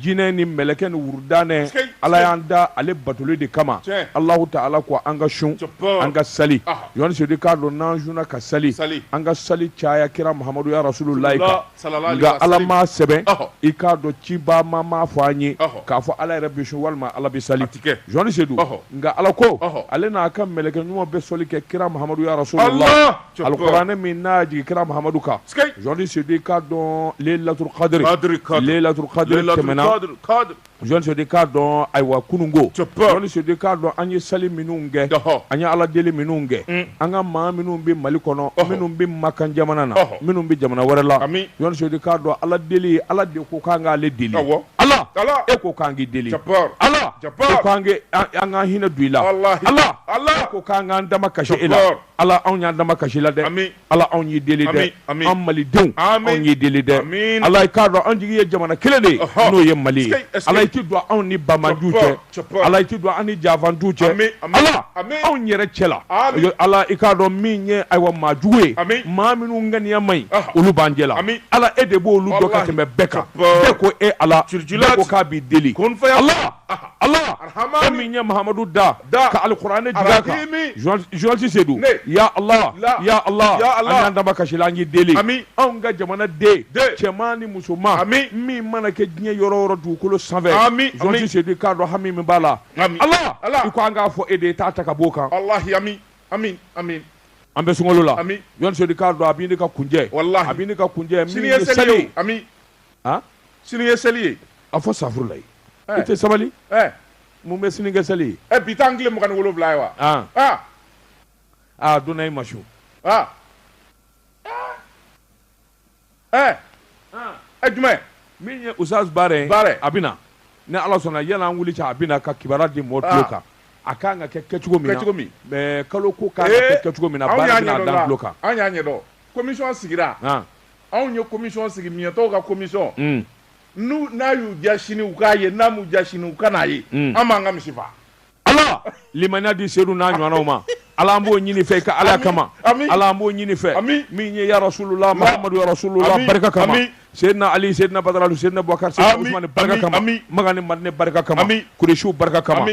jinɛ ni mɛlɛkɛ ni wudɛ ala y'an da ale batoli de kama alahu taala ko an ka sun an ka sali journaliste sedu i k'a dɔn n'an sunna ka sali an ka sali caya kira mamadu ya rasululayi kan nka ala ma sɛbɛn i k'a dɔn ciba m'a fɔ an ye k'a fɔ ala yɛrɛ bɛ sun walima ala bɛ sali journaliste sedu nka ala ko ale n'a ka mɛlɛkɛ ɲuman bɛ sali kɛ kira mamadu ya rasulula alikuranɛ min nana jigin kira mahamadu kan journaliste sedu i k'a dɔn layilatu kadiri layilatu kadiri tɛmɛna journaliste sedu i k'a dɔn ayiwa kununko journaliste sedu i k'a dɔn an ye sali minnu kɛ an ye ala deli minnu kɛ mm. an ka maa minnu bɛ mali kɔnɔ minnu bɛ makan jamana na minnu bɛ jamana wɛrɛ la journaliste sedu i k'a dɔn ala deli ala de ko k'an k'ale deli ala e ko k'an k'i deli ala ko k'an an ka hinɛ don i la ala ala ko k'an k'an dama kasi e la ala anw y'an dama kasi i la dɛ ala anw y'i deli dɛ an malidenw anw y'i deli dɛ ala i k'a dɔn anw jigi ye jamana kelen de n'o ye mali ye ala i tɛ don anw ni banbaanciw cɛ ala i tɛ don an ni janfanciw cɛ ala anw yɛrɛ cɛ la ala i k'a dɔn min ye ayiwa maajugu ye maa minnu ŋaniya ma ɲi olu b'an cɛ la ala e de b'olu dɔn ka tɛmɛ bɛɛ kan bɛɛ ko e ala ko k'an b'i deli ala Allah e min ye Mahamadu da ka alikuranɛ jigin a kan journaliste Sedu ya Allah ya Allah an y'an dama kasi i la an y'i deli anw ka jamana den cɛman ni musoman min mana kɛ diɲɛ yɔrɔ o yɔrɔ dugukolo sanfɛ journaliste Sedu i k'a dɔn hami min b'a la Allah i ko an k'a fɔ e de ye t'a ta ka b'o kan an bɛ sunkalo la journaliste Sedu i k'a dɔn a bɛ ɲini ka kuncɛ a bɛ ɲini ka kuncɛ min ye seli ye sini ye seli ye a fɔ safurulayi i tɛ sabali mun bɛ sini kɛ seli ye bi t'an tile mugan ni wolonwula ye wa aa donna i ma su ɛ ɛ jumɛn min ye ustaz baara ye baara a bɛ na ni ala sɔnna yann'an wuli cɛ a bɛ na ka kibaruya di mɔgɔ tulo kan a kan ka kɛ kɛcogo min kɛcogo min mɛ kalo ko kan ka kɛ kɛcogo min na baara bɛn'a da tulo kan an y'a ɲɛdɔn komisɔn sigira anw ye commission sigi miɲɛtɔw ka commission mm. n'u n'a y'u diya sini u k'a ye n'a m'u diya sini u kan'a ye mm. an b'an ka misi faa ala limaniya di sedu n'a ɲɔgɔnnaw ma ala an b'o ɲini fɛ i ka alaya kama ala an b'o ɲini fɛ min ye ya rasulula mahamadu ya rasulula barika kama seydina ali seydina badara alu seydina bubakar seydina usmani barika kama makan ni madinɛ barika kama kuresiw barika kama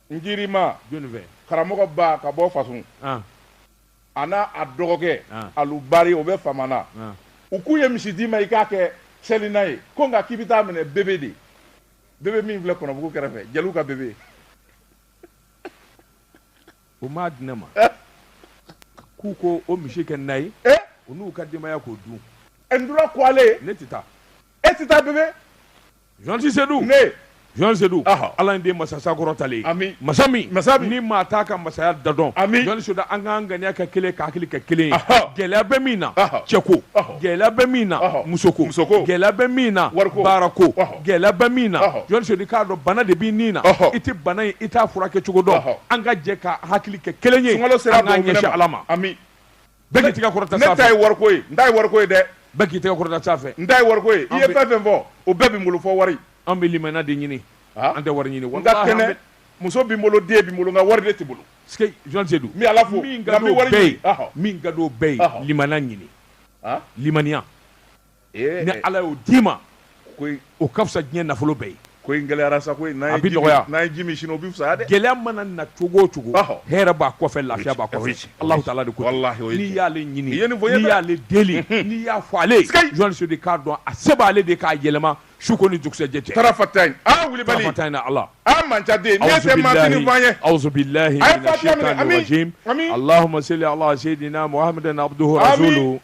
Njima karamɔgɔ ba ka bɔ fasun a n'a dɔgɔkɛ alu bari o bɛ famana u k'u ye misi d'i ma i k'a kɛ seli na ye ko nka k'i bɛ t'a minɛ bebe de bebe min filɛ kɔnɔbugu kɛrɛfɛ ja ka bebe u m'a di ne ma k'u k'o misi kɛ na ye u n'u ka denbaya k'o dun e ko ale ne tɛ taa e tɛ taa bebe Journaliste Seydou ne Journaliste Seydou Aha. Ala in de masa ye masa kɔrɔtalen Ami. masa min Masa min. ni maa t'a ka masaya dan dɔn Ami. Journaliste Seydou an k'an ŋaniya kɛ kelen ye ka hakili kɛ kelen ye Aha. gɛlɛya bɛ min na Aha. cɛko Aha. gɛlɛya bɛ min na Aha. musoko Musoko. gɛlɛya bɛ min na Wariko. baarako Aha. gɛlɛya bɛ min na Aha. Journaliste Seydou k'a dɔn bana de b'i ni na Aha. i tɛ bana ye i t'a furakɛ cogo dɔn Aha. an ka jɛ ka hakili kɛ kelen ye sunkalo sera an k'an dusukun ɲɛsin ma Ala ma Ami. Bɛɛ k'i tɛgɛ kɔrɔta sanfɛ. Ne ta ye wariko ye, n ta ye wariko ye dɛ. Bɛɛ k'i tɛgɛ kɔrɔta sanfɛ. N ta ye wariko ye. I ye fɛn fɛn fɔ, o bɛɛ bɛ n bolo fo wari. An bɛ limaniya de ɲini, an tɛ wari ɲini. N ka kɛnɛ, muso bɛ n bolo, den bɛ n bolo, nka wari de tɛ n bolo. Sikeyi, Journaliste Seydou, n bɛ Ala fo, nka n bɛ wari ɲini. Min ka di o bɛɛ ye, limaniya ɲini, limaniya. ni ala y'o d'i ma o ka fisa diɲɛ nafolo bɛɛ ye ko in gɛlɛyara sa ko n'a bɛ nɔgɔya n'a ye ji min sini o bɛ fisa dɛ gɛlɛya mana na cogo o cogo hɛrɛ b'a kɔfɛ lafiya b'a kɔfɛ Alahu taala de ko n'i y'ale ɲini n'i y'ale deli n'i y'a fɔ ale Journaliste Seydou k'a dɔn a se b'ale de k'a yɛlɛma su ko ni dugusɛjɛ cɛ tarafatayi aa wulibali tarafatayi na Ala aa mancaden n'i tɛ maatinin f'an ye awuzubilahi mina sitani rajim Allahuma seli ala seyidina Muhamadu abuduli rasulu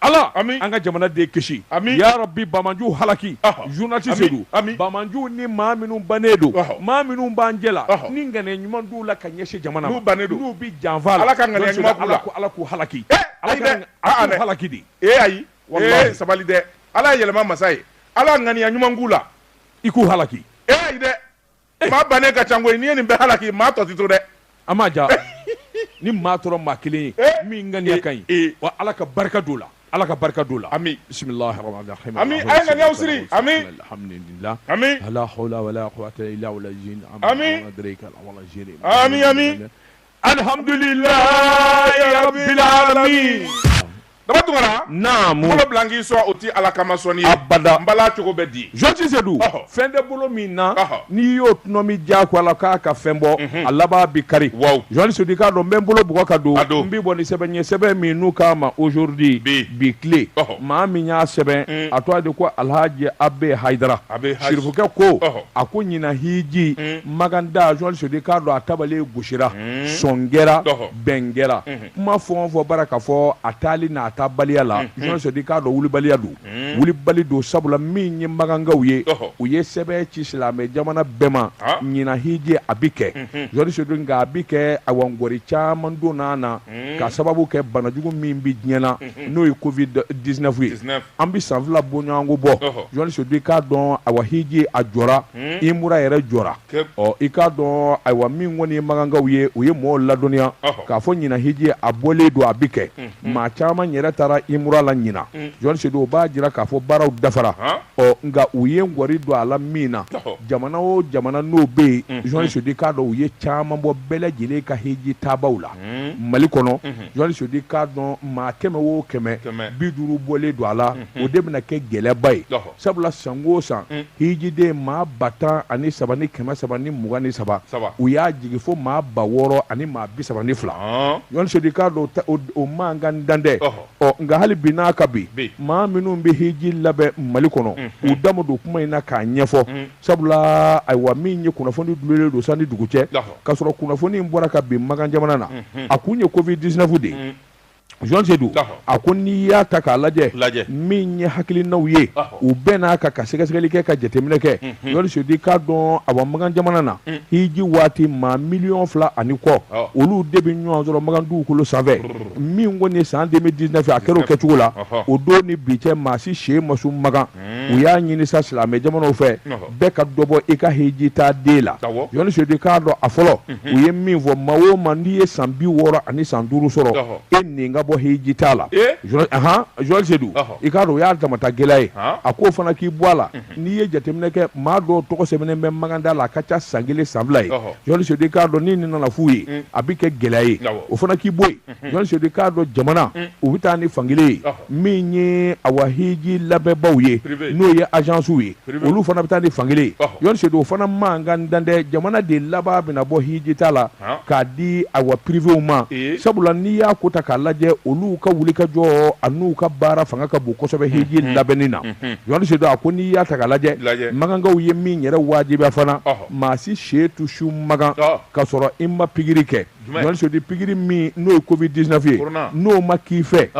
Ala an ka jamana de kisi ya rabi banbaanciw halaki journaliste Seydou banbaanciw ni maa minnu bannen don maa minnu b'an jɛla ni ŋaniya ɲuman t'u la ka ɲɛsin jamana ma bannen don u bɛ janfa la ala ka ala k'u halaki halaki di e ayi sabali dɛ ala yɛlɛma masa ye ala ŋaniya ɲuman k'u la i k'u halaki e dɛ maa bannen ka ca koyi n'i ye nin bɛɛ halaki maa tɔ tɛ to dɛ an m'a ja ni maa tora maa kelen ye eh. min ŋaniya ka ɲi eh, eh. wa ala ka barika don u la ala ka barika don u la ami bisimilahi rahmani rahim ami a ye ŋaniyaw siri ami alhamdulilah ami wala hawla wala quwwata illa billah ami ami ami alihamdulilayi rabilalamin daba tunkara naamu bolo bila n k'i sɔn o ti ala kama sɔnni ye abada n bala cogo bɛ di journaliste Seydou Ɔhɔ. fɛn tɛ bolo min na Ɔhɔ. n'i y'o tɔnɔmi diyagoya la k'a ka fɛn bɔ a laban bi kari Waw. journaliste Seydou i k'a dɔn n bɛ n bolo bugɔ ka don A don. n bɛ bɔ ni sɛbɛn ye sɛbɛn min n'u k'a ma aujourd'hui Bi. bi tile Ɔhɔ. maa min y'a sɛbɛn a tɔgɔ de ko alhaji abe hayidara Abe Haji. sirifukɛ ko Ɔhɔ. a ko ɲina hiji makan taa journaliste Seydou k'a dɔn a tabali gosira sɔn kɛra bɛn kɛra kuma fɔ fɔ bara ka fɔ a taali n'a taabaliya la journaliste Seydou k'a dɔn wulibaliya don wulibali don sabula min ye makankaw ye u ye sɛbɛn ci silamɛ jamana bɛɛ ma ɲina hiji a bɛ kɛ journaliste Seydou nka a bɛ kɛ a wagɔri caman don na na ka sababu kɛ banajugu min bɛ diɲɛ na n'o ye covid dix-neuf ye an bɛ san fila bɔɲɔgɔnko bɔ jenerali Seyidu i k'a dɔn ayiwa hiji a jɔra hmm? umura yɛrɛ jɔra ɔ i k'a dɔn ayiwa min kɔni ye makankaw ye u ye mɔgɔw ladɔnniya k'a fɔ ɲinan hiji a bɔlen don a bɛ kɛ hmm, hmm. maa caman yɛrɛ taara umura la ɲinan jenerali Seyidu o b'a jira k'a fɔ baaraw dafara ɔ nka u ye ŋɔni don a la min na jamana o jamana n'o bɛ yen jenerali Seyidu i k'a dɔn u ye caman bɔ bɛɛ lajɛlen ka hiji taabaaw la mali kɔnɔ Seyidu i k'a dɔn maa kɛmɛ o kɛmɛ bi duuru bɔlen don a la o de bɛna kɛ gɛlɛyaba ye sabula san o san hijiden maa ba tan ani saba ni kɛmɛ saba ni mugan ni saba u y'a jigi fo maa ba wɔɔrɔ ani maa bi saba ni fila Seyidu i k'a dɔn o man kan dantɛ ɔ nka hali bi n'a ka bi maa minnu bɛ hiji labɛn mali kɔnɔ u da ma don kuma in na k'a ɲɛfɔ Sabula ayiwa min ye kunnafoni dulonnen don san ni dugu cɛ ka sɔrɔ kunnafoni bɔra kabi makan jamana na a kun ye covid dix-neuf de ye jenerali Seyidu a ko n'i y'a ta k'a lajɛ lajɛ min ye hakilinaw ye u bɛ na ka ka sɛgɛsɛgɛli kɛ ka jateminɛ kɛ Seyidu i k'a dɔn a makan jamana na hiji waati maa miliyɔn fila ani kɔ olu de bɛ ɲɔgɔn sɔrɔ makan dugukolo sanfɛ min kɔni nin san deux mille dix-neuf a kɛra o kɛcogo la o don ni bi cɛ maa si sen ma su makan u y'a ɲini sa silamɛ jamanaw fɛ bɛɛ ka dɔ bɔ i ka hiji taaden la jenerali Seyidu i k'a dɔn a fɔlɔ u ye min fɔ maa o maa n'i ye san bi wɔɔrɔ ani san duuru sɔrɔ e nin ka bɔ hijitaa la jenerali Seyidu i k'a dɔn u y'a damata gɛlɛya ye a k'o fana k'i bɔ a la n'i ye jateminɛ kɛ maa dɔw tɔgɔ sɛbɛnnen bɛ makantaa la a ka ca san kelen san fila ye jenerali Seyidu i k'a dɔn ni nin nana f'u ye a bɛ kɛ gɛlɛya ye o fana k'i bɔ yen Seyidu i k'a dɔn jamana u bɛ taa ni fankelen ye min ye awa hiji labɛnbaw ye n'o ye azansiw ye olu fana bɛ taa ni fankelen ye Seyidu o fana man ka dantɛ jamana de laban bɛna bɔ hijitaa la k'a di awa piriwew ma sabula n'i y'a ko ta k'a lajɛ olu ka wuli ka jɔ an'u ka baara fanga ka bon kosɛbɛ hiji labɛnni na jenerali Seyidu a ko n'i y'a ta k'a lajɛ makankaw ye min yɛrɛ wajibiya fana maa si sen tɛ su makan ka sɔrɔ i ma pikiri kɛ Seyidu pikiri min n'o ye covid dix-neuf ye n'o ma k'i fɛ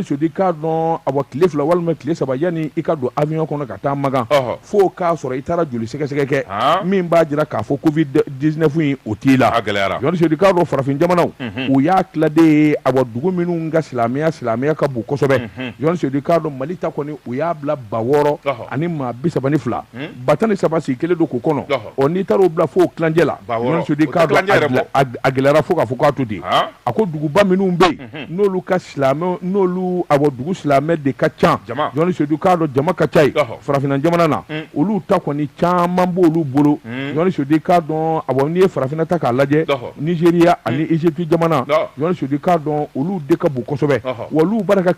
Seyidu i k'a dɔn awa tile fila walima tile saba yanni i ka don awiyɔn kɔnɔ ka taa makan fo k'a sɔrɔ i taara joli sɛgɛsɛgɛ kɛ min b'a jira k'a fɔ covid dix-neuf o t'i la jenerali Seyidu i k'a dɔn farafin jamanaw u y'a tiladen ye a dugu minnu ka silamɛya silamɛya ka bon kosɛbɛ Seyidu i k'a dɔn mali ta kɔni u y'a bila ba wɔɔrɔ ani maa bi saba ni fila ba tan ni saba si kelen don ko kɔnɔ ɔ n'i taara' bila fo ojɛ la gɛlɛyara fo k'a fɔ k'a to di a ko duguba minnu bɛ yen n'olu ka silamɛ n'olu a dugu silamɛ de ka ca sedu i k'a dɔn jama ka ca yen farafinna jamana na olu ta kɔni caman b' olu bolo sedu i k'a dɔn a n'i ye farafinna ta k'a lajɛ nigéria ani égypte jamana sedu i k'a dɔn olu de ka bon kosɛbɛ wa olu banna ka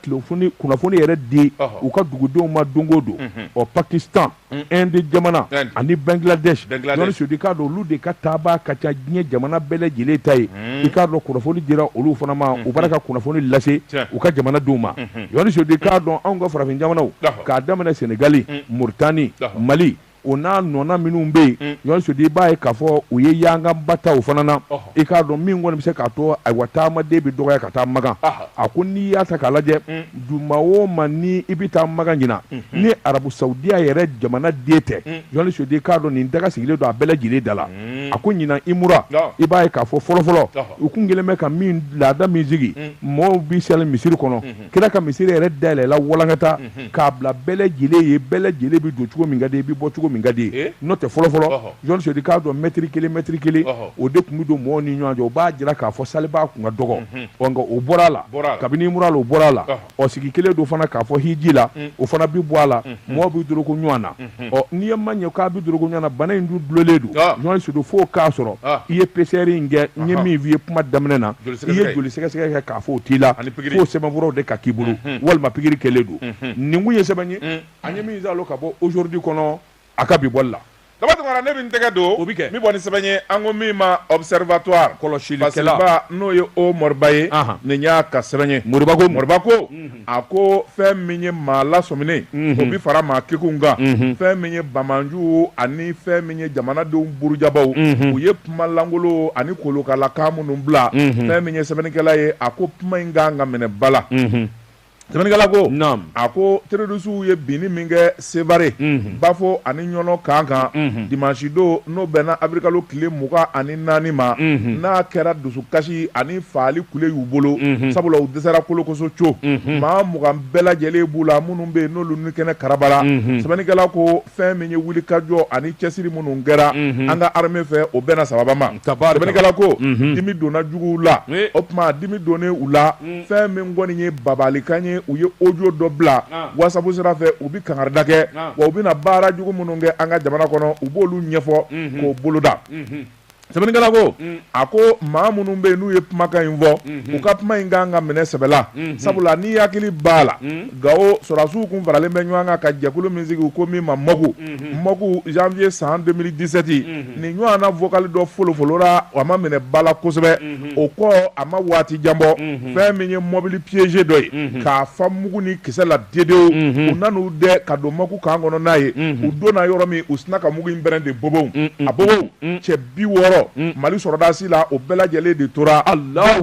kunnafoni yɛrɛ di u ka dugudenw ma donko don ɔ pakistan inde mm. jamana ani bangladesh jɔni sedu i k'a dɔn olu de ka taabaa ka ca diɲɛ jamana bɛɛ lajɛlen ta ye mm. i k'a dɔn kunnafoni dira olu fana ma mm-hmm. u banna ka kunnafoni lase u ka jamana denw ma mm-hmm. jɔni sedu i k'a dɔn anw ka farafin jamanaw k'a daminɛ senegali mm. muritani mali o n'a ɲɔgɔnna minnu bɛ yen jɔni sedu i b'a ye k'a fɔ u ye yanganbataw fana na i k'a dɔn min kɔni bɛ se k'a to ayiwa taamaden bɛ dɔgɔya ka taa makan a ko n'i y'a ta k'a lajɛ mm. duma o ma ni i bɛ taa makan ɲinan mm-hmm. ni arabu saudiya yɛrɛ jamana den tɛ mm. jɔni sedu i k'a dɔn nin daga sigilen don a bɛɛ lajɛlen da la mm. a ko ɲinan umura i b'a ye k'a fɔ fɔlɔfɔlɔ u kun kɛlen bɛ ka min laada min sigi mɔɔw b'i seli misiri kɔnɔ mm-hmm. kira ka misiri yɛrɛ dayɛlɛla walankata mhm. k'a bila bɛɛ lajɛlen ye bɛɛ lajɛlen bɛ don cogo min ka d'i ye bɛ bɔ cogo min ka d'i ye n'o tɛ fɔlɔfɔlɔ jɔni sedu i k'a dɔn mɛtiri kelen mɛtiri kelen o de tun bɛ don mɔgɔw ni ɲɔgɔn cɛ o b'a jira k'a fɔ salibaa kun ka dɔgɔ mhm. ɔ nka o bɔra a la kabini umura la o bɔra a la ɔ sigi kɛlen don fana k'a fɔ hiji la mhm. o fana bɛ bɔ a la mɔgɔw bɛ doroko ɲɔgɔn na Hmm. ɔ n'i ye maa ye k'a bɛ dorogo ɲɔgɔn na bana in du dulolen don ah. jɔni sedu fo k'a sɔrɔ ah. i ye PCR in kɛ n ye min f'i ye kuma daminɛ na i ye joli sɛgɛsɛgɛ kɛ k'a fɔ o t'i la f'o sɛbɛnfura de ka k'i bolo hmm, hmm. walima pikiri kɛlen don nin kun ye sɛbɛn ye an ye min zalo ka bɔ aujourd'hui kɔnɔ a ka bi bɔli la daba tunkara ne bɛ n tɛgɛ don o bɛ kɛ min bɔ ni sɛbɛn ye an ko min ma observatoire kɔlɔsilikɛla n'o ye o moriba ye nin y'a ka sɛbɛn ye moriba ko moriba ko a ko fɛn min ye maa lasɔmini o bɛ fara maa kekun kan fɛn min ye bamananju ani fɛn min ye jamanadenw burujabaaw u ye kuma lankolon ani kolokala kan minnu bila fɛn min ye sɛbɛnnikɛla ye a ko kuma in kan ka minɛ bala sɛbɛnnikɛla ko a ko terorisuw ye binni min kɛ Sevare, unhun, Bafo ani Ɲɔnɔ camp kan, unhun, dimanche don n'o bɛnna avril kalo tile mugan ani naani ma, unhun, n'a kɛra dusukasi ani fagali kule y'u bolo, unhun, sabula u dɛsɛra kolokoso co, unhun, maa mugan bɛɛ lajɛlen b'u la minnu bɛ yen n'olu nikɛnɛ karabara, unhun, sɛbɛnnikɛla ko fɛn min ye wulikajɔ ani cɛsiri minnu kɛra, unhun, an ka armee fɛ o bɛnna sababa ma, tabaarika, sɛbɛnnikɛla ko, unhun, dimi donna juguw la, ee, o tuma dimi donnen u la fɛn min kɔni ye babalikan ye u ye odiyo dɔ bila wasabu sira fɛ u bɛ kankari da kɛ wa u bɛna baara jugu minnu kɛ an ka jamana kɔnɔ u b'olu ɲɛfɔ k'o boloda sɛbɛnnikɛla ko a ko maa minnu bɛ yen n'u ye kumakan in fɔ u ka kuma in ka kan ka minɛ sɛbɛ la sabula n'i hakili b'a la gawo sɔrɔdasiw tun faralen bɛ ɲɔgɔn kan ka jɛkulu min sigi u ko min ma MOC MOC zanwuye san deux mille dix-sept nin ɲɔgɔn vokali dɔ folofolora a ma minɛ ba la kosɛbɛ o kɔ a ma waati jan bɔ fɛn min ye mɔbili piégé dɔ ye k'a fa mugu ni kisɛ la dewu dewu u nan'u dɛɛ ka don MOC kan kɔnɔ n'a ye u donna yɔrɔ min u sina ka mugu in pɛrɛn de bobow a bobow cɛ bi wɔɔrɔ mali sɔrɔdasi la o bɛɛ lajɛlen de tora a la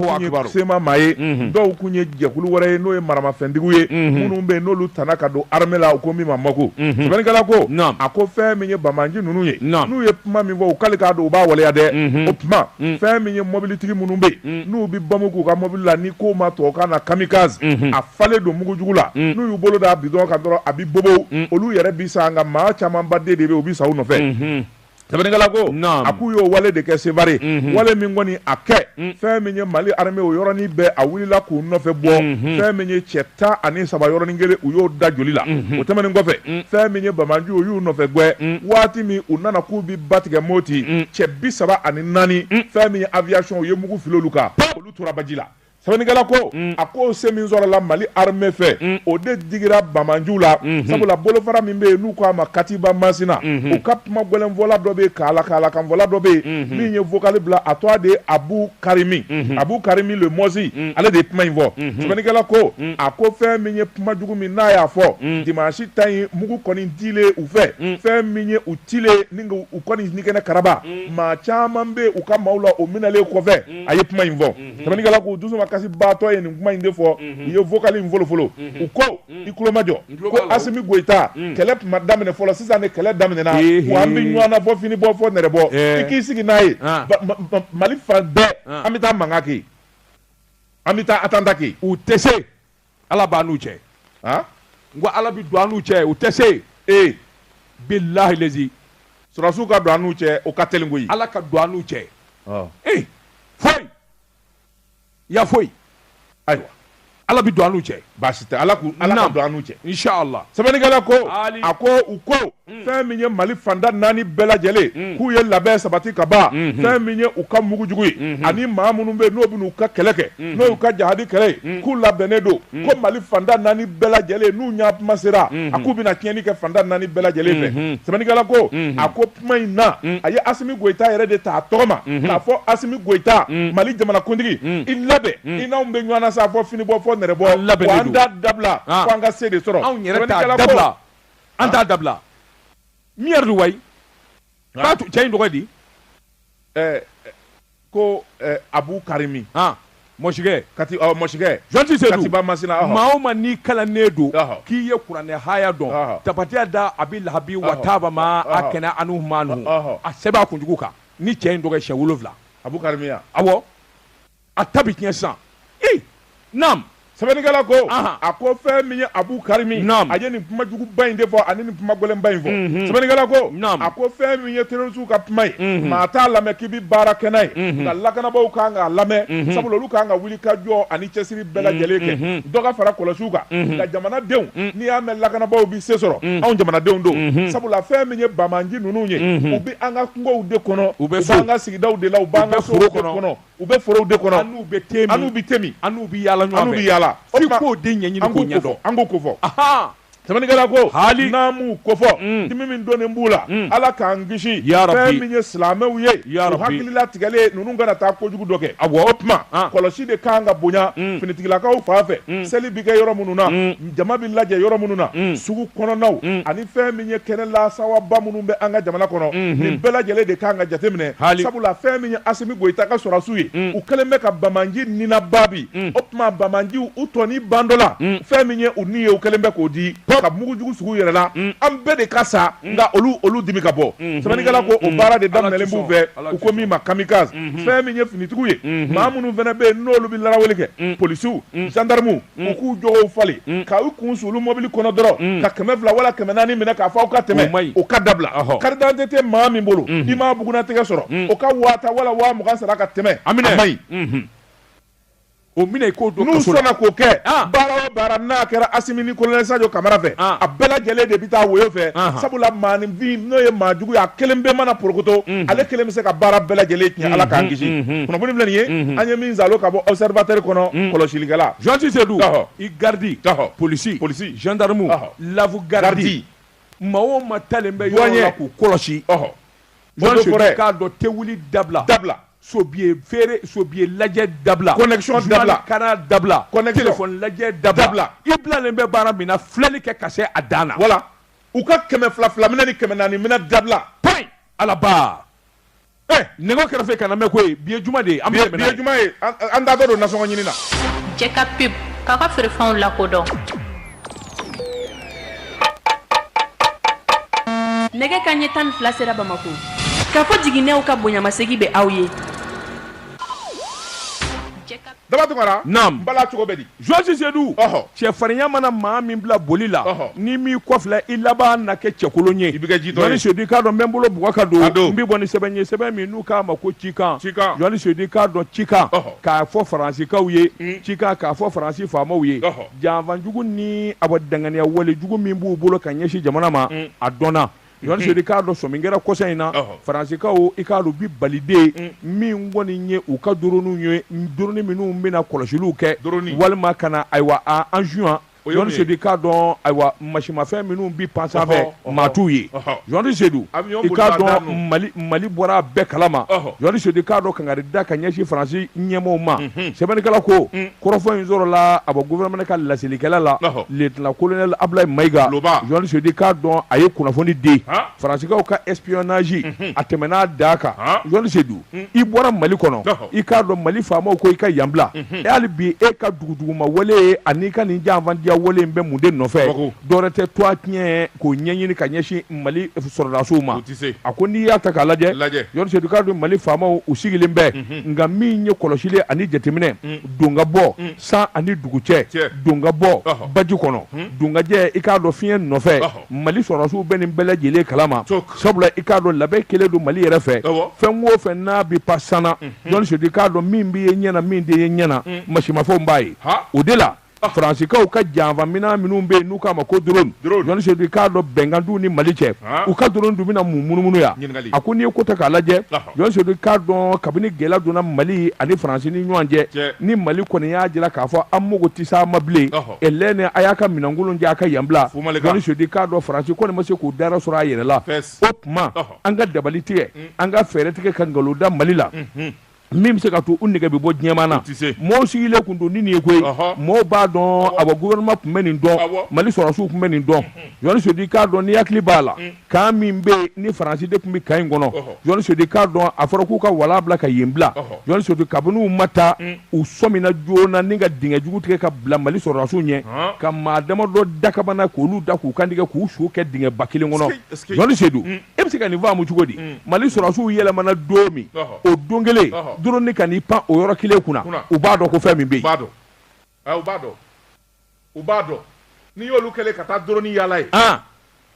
CMA maa ye dɔw tun ye jɛkulu wɛrɛ ye n'o ye maramafɛntigiw ye minnu bɛ n'olu taara ka don arame la u ko min ma MOC sɛbɛnnikɛla ko a ko fɛn min ye banbaanci ninnu ye n'u ye kuma min fɔ k'ale k'a dɔn u b'a waleya dɛ o tuma fɛn min ye mɔbilitigi minnu bɛ yen n'u bɛ bamu k'u ka mɔbili la n'i ko o ma tubabukan na kamikazi a falen don mugu jugu la n'u y'u bolo da butɔn kan dɔrɔn a bɛ bobow olu yɛrɛ bi sa nka maa camanba de de u bɛ sa u nɔfɛ sɛbɛnnikɛla ko a k'u y'o wale de kɛ sevare wale min kɔni a kɛ fɛn min ye mali arame o yɔrɔnin bɛɛ a wulila k'u nɔfɛ bɔ fɛn min ye cɛ tan ani saba yɔrɔnin kelen u y'o da joli la o tɛmɛn kɔfɛ fɛn min ye banbaanci u y'u nɔfɛ gɛn waati min u nana k'u ba tigɛ moti cɛ bi saba ani naani fɛn min ye aviation u ye mugu fili olu kan olu tora baji la sɛbɛnnikɛla ko a ko se min sɔrɔla mali arame fɛ o de digira banbaanciw la sabula bolofara min bɛ yen n'u k'a ma katiba masina u ka kuma gɛlɛnfɔla dɔ bɛ k'a la k'a la kanfɔla dɔ bɛ yen min ye vokali bila a tɔgɔ de ye abu karimu abu karimu mɔsi ale de ye kuma in fɔ sɛbɛnnikɛla ko a ko fɛn min ye kuma jugu min n'a y'a fɔ di si ta ɲi mugu kɔni di u fɛ fɛn min ye tile ni u kɔni nikɛnɛ karaba mm. maa caman tun bɛ u ka maaw la o minɛlen kɔfɛ mm. a ye kuma in fɔ mm-hmm. sɛbɛnnikɛla k'u dusumakasibaatɔ ye nin kuma in de fɔ mm-hmm. u ye vokali in folofolo mm-hmm. u ko mm. i kulomajɔ ko asimi goyita kɛlɛ tun ma daminɛ fɔlɔ sisan de kɛlɛ daminɛna wa an bɛ ɲɔgɔn na fo fini bɔ fo nɛrɛ bɔ eh. i k'i sigi n'a ye ah. mali fan bɛɛ ah. an bɛ taa mankan kɛ an bɛ taa atanta kɛ u tɛ se ala b'a n'u cɛ han n ko ala bi don an n'u cɛ u tɛ se ee bilahi lazi sɔrɔdasiw ka don an n'u cɛ o ka teli koyi ala ka don an n'u cɛ ee foyi ya foyi ayiwa ala bi don an n'u cɛ baasi tɛ ala k'u ala ka Naam. don an n'u cɛ inshallah sɛbɛnnikɛla ko Aali. a ko u ko Mm. fɛn min ye mali fanda naani bɛɛ lajɛlen mm. k'u ye labɛn sabati ka ban mm-hmm. fɛn min ye u ka mugujugu ye mm-hmm. ani maa minnu bɛ n'o bɛn'u ka kɛlɛ kɛ mm-hmm. n'o y'u ka jahadi kɛlɛ ye mm. k'u labɛnnen don ko mali fanda naani bɛɛ lajɛlen n'u ɲa tuma sera a k'u bɛna tiɲɛni kɛ fanda naani bɛɛ lajɛlen fɛ sɛbɛnnikɛla ko a ko kuma in na a ye asimi goyita yɛrɛ de ta a tɔgɔ ma k'a fɔ asimi goyita mali jamanakuntigi i labɛn i n'anw bɛ ɲɔgɔn na sa fo finibɔ fo nɛrɛbɔ wa an t'a dabila fo an ka se de sɔrɔ sɛbɛnnikɛla ko an t'a dabila mi yɛrɛ don wayi k'a tu cɛ in tɔgɔ di ɛɛ ko ɛɛ abu karimi han mɔsikɛ kati ɔ mɔsikɛ jɔnti se katiba masina ɔhɔ maa o maa n'i kalannen don k'i ye kuranɛ haya dɔn tabati yada abi lahabi wa taba ma agina anhu malu a sɛbɛn a kunjugu kan ni cɛ in tɔgɔ ye siyɛn wolonwula abu karimi a awɔ a ta bɛ tiɲɛ sisan ee naam sɛbɛnnikɛla ko a ko fɛn min ye abu karimi a ye nin kuma juguba in de fɔ ani nin kuma gɛlɛnba in fɔ mhm. sɛbɛnnikɛla ko a ko fɛn min ye terrorisiw ka kuma ye mhm. maa t'a lamɛn k'i bɛ baara kɛ n'a ye mhm. nka lakanabaaw kan k'a lamɛn sabula olu kan ka wuli ka jɔ ani cɛsiri bɛɛ lajɛlen kɛ dɔ ka fara kɔlɔsiw kan nka jamanadenw n'i y'a mɛn lakanabaaw bɛ se sɔrɔ anw jamanadenw don sabula fɛn min ye banbaanci ninnu ye u bɛ an ka kungow de kɔnɔ u bɛ an ka sigidaw de la u b'an ka sow kɔnɔ U bɛ forow de kɔnɔ an'u bɛ te min an'u bɛ te min an'u bɛ yaala ɲɔgɔn fɛ an'u bɛ yaala o tuma f'i k'o de ɲɛɲini an k'o k'u ɲɛdɔn kofɔ an k'u kofɔ ahan sɛbɛnnikɛla ko haali n'an m'u kofɔ un dimi min donnen b'u la un Ala k'an kisi yaa rabi fɛn min ye silamɛw ye yaa rabi u hakili latigɛlen ninnu kana taa kojugu dɔ kɛ awɔ o tuma an kɔlɔsi de ka kan ka bonya un finitigilakaw fan fɛ un seli bɛ kɛ yɔrɔ minnu na un jama bɛ lajɛ yɔrɔ minnu na mm. sugu kɔnɔnaw mm. ani fɛn min ye kɛnɛ lasawaba minnu bɛ an ka jamana kɔnɔ mm-hmm. nin bɛɛ lajɛlen de kan ka jateminɛ sabula fɛn min ye asimi goyita ka sɔrɔdasiw ye mm. u kɛlen bɛ ka banbaanci ninnu baabi o tuma banbaanciw u tɔni ban dɔ la fɛn min ye u ni ye u kɛlen bɛ k'o di ka mugujugu sig'u yɛrɛ la an bɛɛ de ka sa nka olu olu dimi ka bɔ mm-hmm. sɛbɛnnikɛla ko o baara de daminɛlen b'u fɛ u ko min ma kamikaze mm-hmm. fɛn min ye finitigiw ye maa minnu fana bɛ yen n'olu bɛ laraweli kɛ polisiw zandarmuw Mm. u k'u jogow falen mm. ka u kun suuli mobili kɔnɔ dɔrɔn mm. ka kɛmɛ fila wala kɛmɛ naani minɛ k'a fɔ aw ka tɛmɛ o ka dabila karidante tɛ maa min bolo mm-hmm. n'i m'a bugunnatigɛ sɔrɔ o ka waa tan wala waa mugan sara ka tɛmɛ a ma ɲi mm-hmm. o minɛ i k'o don n'u sɔnna k'o kɛ ah. baara o baara n'a kɛra Asimi ni kolonɛli Sajo Kamara fɛ ah. a bɛɛ lajɛlen de bɛ taa woyo fɛ ah. sabula maaninfin n'o ye maa jugu ye a kelenpe mana porokoto mm-hmm. ale kelen bɛ se ka baara bɛɛ lajɛlen tiɲɛ Ala k'an kisi kunnafoni filɛ nin ye an ye min zalo ka bɔ observateur kɔnɔ mm. kɔlɔsilikɛla Général Seydou ɔhɔ i garde ɔhɔ police police gendarme ɔhɔ lavu garde maa o maa talen bɛ yɔrɔ la k'u kɔlɔsi ɔhɔ Général Seydou i k'a dɔn te wuli dabila dabila sobiye feere sobiye lajɛ dabila connexion dabila Canal dabila connexion téléphone lajɛ dabila dabila i bilalen bɛ baara min na filɛli kɛ ka se a dan na voilà u ka kɛmɛ fila fila minɛ ni kɛmɛ naani minɛ dabila payi alaba Eh, nɛgɛ kɛrɛfɛ kana mɛn koyi bi ye juma de ye an bɛ bi ye juma ye an da don nasɔngɔ ɲini na jɛ ka pub k'a ka feerefɛnw lakodɔn nɛgɛ kan ɲɛ tan ni fila sera bamako Kafo Jiginɛw ka bonyamasegin bɛ aw ye Daba Tunkara, naamu, n bala cogo bɛ di? Général Seydou, ɔhɔ, cɛfarinya mana maa min bila boli la, ɔhɔ, n'i m'i kɔfilɛ i laban na kɛ cɛkolon ye, i bɛ kɛ jitɔ ye, Général Seydou i k'a dɔn n bɛ n bolo bugɔ ka don, a don, n bɛ bɔ ni sɛbɛn ye sɛbɛn min n'u k'a ma ko cikan, cikan, Général Seydou i k'a dɔn cikan, ɔhɔ, k'a fɔ faransikaw ye, un, cikan k'a fɔ faransi faamaw ye, ɔhɔ, janfa jugu ni awɔ danganiya wale jugu min b'u bolo ka ɲɛsin jamana ma, un, a dɔnna, Général Seydou i k'a dɔn sɔmi kɛra kɔsa in na faransikaw i k'a dɔn u bɛ Mali dɛn mm. min kɔni ye u ka drone ye drone minnu bɛna kɔlɔsiliw kɛ walima ka na ayiwa engin Général Seydou i k'a dɔn ayiwa masinmafɛn minnu bɛ pan sanfɛ maa t'u ye Général Seydou i k'a dɔn Mali bɔra a bɛɛ kalama Général Seydou i k'a dɔn kangari da ka ɲɛsin Faransi ɲɛmɔgɔw ma mm-hmm. sɛbɛnnikɛla ko mm. kɔrɔfɔ in sɔrɔla a bɔ gouvernement ka laselikɛla la lieutenant colonel Ablaye Mayiga Général Seydou i k'a dɔn a ye kunnafoni di faransikaw ka espionnage mhm. a tɛmɛn'a dan kan Général Seydou mhm. i bɔra Mali kɔnɔ i k'a dɔn Mali faamaw ko i ka yan bila mhm. e hali bi e ka duguduguma wale an'i ka nin janfanciya wale in bɛ mun de nɔfɛ dɔwɛrɛ tɛ tɔgɔtiɲɛ ko ɲɛɲini ka ɲɛsin mali sɔrɔdasiw ma a ko n'i y'a ta k'a lajɛ Général Seydou i k'a dɔn mali faamaw u sigilen bɛ mhm. nka min ye kɔlɔsili ani jateminɛ mhm. don ka bɔ mhm. san ani dugu cɛ don ka bɔ baji kɔnɔ don ka jɛ i k'a dɔn fiɲɛ nɔfɛ mali sɔrɔdasiw bɛ nin bɛɛ lajɛlen kalama sabula i k'a dɔn labɛn kɛlen don mali yɛrɛ fɛ fɛn o fɛn n'a bɛ pan san na Général Seydou i k'a dɔn min bɛ ye ɲɛ na min tɛ ye ɲɛ na masinmafɛnw b'a ye o de la Faransiw ka janfa minɛn minnu bɛ yen n'u k'a ma ko drone Général Seydou i k'a dɔn bɛnkan t'u ni mali cɛ u ka drone dun bɛna mun munumunu yan a ko n'i ye ko ta k'a lajɛ Général Seydou i k'a dɔn kabini gɛlɛya donna mali ani faransi ni ɲɔgɔn cɛ ni mali kɔni y'a jira k'a fɔ an mago tɛ sa ma bilen lɛn a y'a ka minɛn kolon cɛ a ka yan bila Général Seydou i k'a dɔn faransi kɔni ma se k'u da sɔrɔ a yɛrɛ la o tuma an ka dabali tigɛ an ka fɛɛrɛ tigɛ ka nkalon da mali la min bɛ se ka to u nɛgɛ bɛ bɔ diɲɛma na mɔgɔw sigilen tun don ni nin ye koyi mɔgɔw b'a dɔn a gouvernement tun bɛ nin dɔn Mali sɔrɔdasiw tun bɛ nin dɔn Jɔni Seedu i k'a dɔn n'i hakili b'a la kan min bɛ yen ni Faransi de tun bɛ kan in kɔnɔ Jɔni Seedu i k'a dɔn a fɔra k'u ka wa labila ka yen bila Jɔni Seedu kabini u ma taa u sɔmina joona ni ka dingɛ jugu tigɛ ka bila Mali sɔrɔdasiw ɲɛ ka maa damadɔ dakabana k'olu da k'u kantigɛ k'u su kɛ dingɛ ba kelen kɔnɔ Jɔni Seedu e bɛ se ka nin faamu cogo di mm. mali sɔrɔdasiw yɛlɛmana don min o don kelen dɔrɔni ka n'i pan o yɔrɔ kelen kunna u b'a dɔn ko fɛn min bɛ yen u b'a dɔn u b'a dɔn n'i y'olu kɛlen ka taa dɔrɔni yaala yen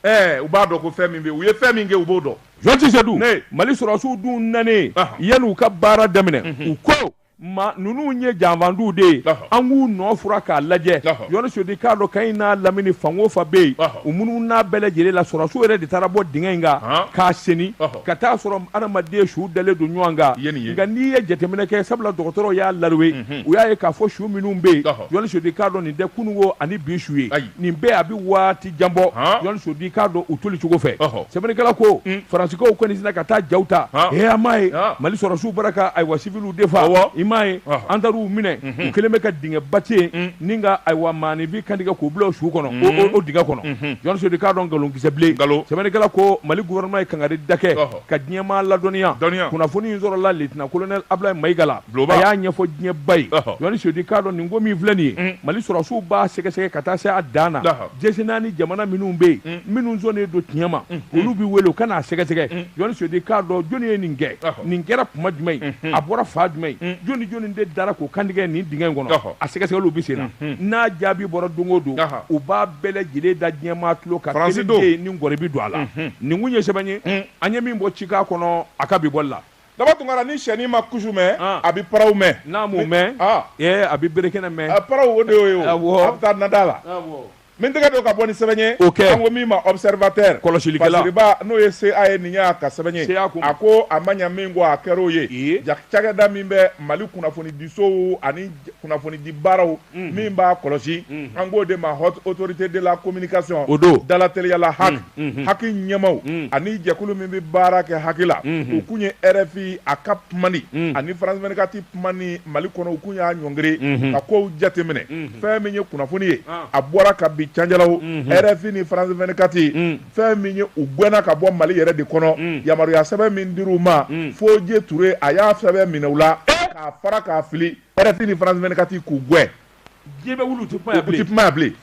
ɛɛ u b'a dɔn ko fɛn min bɛ yen u ye fɛn min kɛ u b'o dɔn Jɔni Seedu mali sɔrɔdasiw dun nanen yanni u ka baara daminɛ mhm. u ko Maa ninnu ye janfadenw de ye an k'u nɔ furan k'a lajɛ Jɔni Seedu i k'a dɔn kan in n'a lamini fan o fan bɛ yen u munun'a bɛɛ lajɛlen la sɔrɔdasiw yɛrɛ de taara bɔ dingɛ in kan k'a sen ka t'a sɔrɔ adamaden su dalen don ɲɔgɔn kan nka n'i ye jateminɛ kɛ sabula dɔgɔtɔrɔw y'a lajɛ u y'a ye k'a fɔ su minnu bɛ yen Jɔni Seedu i k'a dɔn nin tɛ kunun ko ani bi su ye nin bɛɛ a bɛ waati jan bɔ Jɔni Seedu i k'a dɔn u toli cogo fɛ sɛbɛnnikɛla ko mm. faransikaw kɔni sina ka taa jaw ta ee aw m'a ye mali sɔrɔdasiw bara ka ayiwa siviliw de fa i m'a ye an taar'u minɛ mhm. u kɛlen bɛ ka dingɛ ba tigɛ mm. ni ka ayiwa maaninfin kantigɛ k'u bila o su kɔnɔ mm. o dingɛ kɔnɔ mhm. Jɔni Seedu i k'a dɔn nkalon kisɛ bilen sɛbɛnnikɛla ko mali gouvernement ye kankarida kɛ ka diɲɛmaa ladɔnniya kunnafoni in sɔrɔla lieutenant colonel abulayi mayiga la Bulon y'a ɲɛfɔ diɲɛmaa ye Jɔni Seedu i k'a dɔn nin ko min filɛ nin ye mali sɔrɔdasiw b'a sɛgɛsɛgɛ ka taa se a dan na jɛsi n' ni jamana minnu bɛ yen minnu sɔnnen don tiɲɛ ma olu bɛ wele u ka n'a sɛgɛsɛgɛ Jɔni Seedu i k'a dɔn jɔnni ye nin kɛ nin kɛra tuma jumɛn in a bɔra fan jumɛn in jɔnni jɔnni de dara k'u kantigɛ nin dingɛ in kɔnɔ a sɛgɛsɛgɛ bɛ sen na n'a jaabi bɔra don o don u b'a bɛɛ lajɛlen da diɲɛmaa tulo kan si dɔw ye ni gɔrɔbi don a la nin tun ye sɛbɛn ye an ye min bɔ Cikan kɔnɔ a ka bi bɔli la Daba Tunkara ni syɛnin ma kusu mɛn ah. a bɛ paraw mɛn n'a m'o mɛn ah. eh, a bɛ bere kɛnɛ mɛn ah, paraw o de y'o ye o a bɛ taa nada la min tɛgɛ don ka bɔ ni sɛbɛn ye o kɛ an ko min ma observateur kɔlɔsilikɛla basiriba n'o ye CA ye nin y'a ka sɛbɛn ye a ko a ma ɲa min kɔ a kɛr'o ye cakɛda min bɛ Mali kunnafonidisow ani kunnafonidi baaraw min b'a kɔlɔsi an k'o de ma Haute Autorité de la Communication o don da la teliya la HAC HAC ɲɛmaaw ani jɛkulu min bɛ baara kɛ HAC la u tun ye RFI a ka ani France vingt-quatre ni mali kɔnɔ u tun y'a ɲɔngiri ka kow jateminɛ fɛn min ye kunnafoni ye a bɔra ka bi cajaraw RFI ni France vingt-quatre fɛn min ye u gɛnna ka bɔ mali yɛrɛ de kɔnɔ yamaruyaya sɛbɛn min dir'u ma Foje Ture a y'a sɛbɛn minɛ u la k'a fara k'a fili RFI ni France 24 k'u gɛn diɲɛ bɛ wuli u tɛ kuma u tɛ kuma yan bilen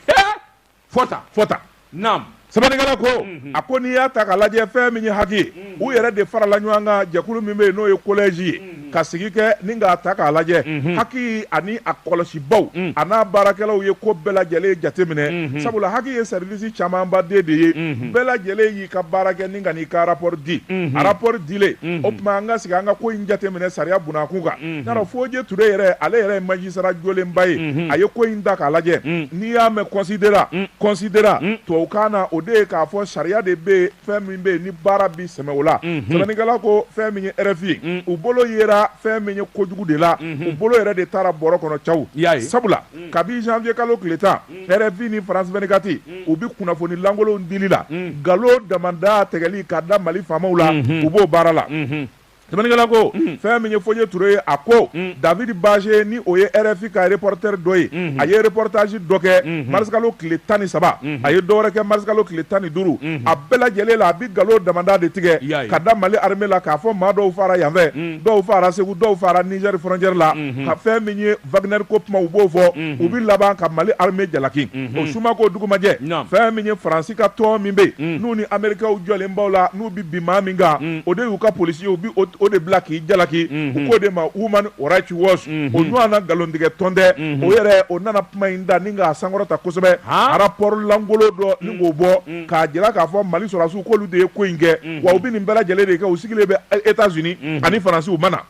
fɔ tan fɔ tan naam sɛbɛnnikɛla ko Mhm. a ko n'i y'a ta k'a lajɛ fɛn min ye HAC ye Mhm. u yɛrɛ de farala ɲɔgɔn kan jɛkulu min bɛ yen n'o ye collège ye Mhm. ka sigi kɛ ni k'a ta k'a lajɛ Mhm. HAC ani a kɔlɔsibaw Mhm. a n'a baarakɛlaw ye ko bɛɛ lajɛlen jateminɛ Mhm. sabula HAC ye service camanba de de ye Mhm. bɛɛ lajɛlen ye i ka baara kɛ ni ka n'i ka rapport di unhun rapport dilen unhun o tuma an ka sigi an ka ko in jateminɛ sariya bunakun kan unhun yarɔ Fodié Touré yɛrɛ ale yɛrɛ ye magistrat jɔlenba ye unhun a ye ko in ta k'a lajɛ un n'i y'a mɛn considérant considérant tubabukan na o de ye k'a fɔ sariya de bɛ yen fɛn min bɛ yen ni baara bi sɛmɛ o la unhun sɛbɛnnikɛla ko fɛn min ye RFI ye un u bolo yera fɛn min ye kojugu de la unhun u bolo yɛrɛ de taara bɔrɔ kɔnɔ cawu i y'a ye sabula un kabi janvier kalo tile 10 RFI ni France 24 unhun, u bɛ kunnafoni lankolonw dili la, unhun, nkalon damanda tigɛli ka da Mali faamaw la, unhun, u b'o baara la. Unhun. Sɛbɛnnikɛla ko, unhun, fɛn min ye Fodié Touré ye, a ko, unhun, David Baché ni o ye RFI ka reporter dɔ ye, unhun, a ye reportage dɔ kɛ, unhun, marisikalo tile 13, unhun, a ye dɔ wɛrɛ kɛ marisikalo tile 15, unhun, a bɛɛ lajɛlen la a bɛ nkalon damanda de tigɛ, i y'a ye, ka da Mali armée la k'a fɔ maa dɔw faara yan fɛ, unhun, dɔw faara Segu, dɔw faara Niger frontière la, unhun, ka fɛn min ye Wagner ko kuma u b'o fɔ u bɛ laban ka Mali armée jalaki o suma k'o dugumajɛ fɛn min ye France ka tɔn min bɛ yen n'u ni Américains jɔlen b'o la n'u bɛ bin maa min kan o de y'u ka police ye u bɛ o de bila k'i jalaki u k'o de ma Human Rights Watch o ɲɔgɔn na nkalontigɛ tɔn tɛ o yɛrɛ o nana kuma in ta ni k'a sankɔrɔta kosɛbɛ rapport lankolon dɔ ni k'o bɔ k'a jira k'a fɔ Mali sɔrɔdasiw k'olu de ye ko in kɛ wa u bɛ nin bɛɛ lajɛlen de kɛ u sigilen bɛ Etats Unis ani France u ma na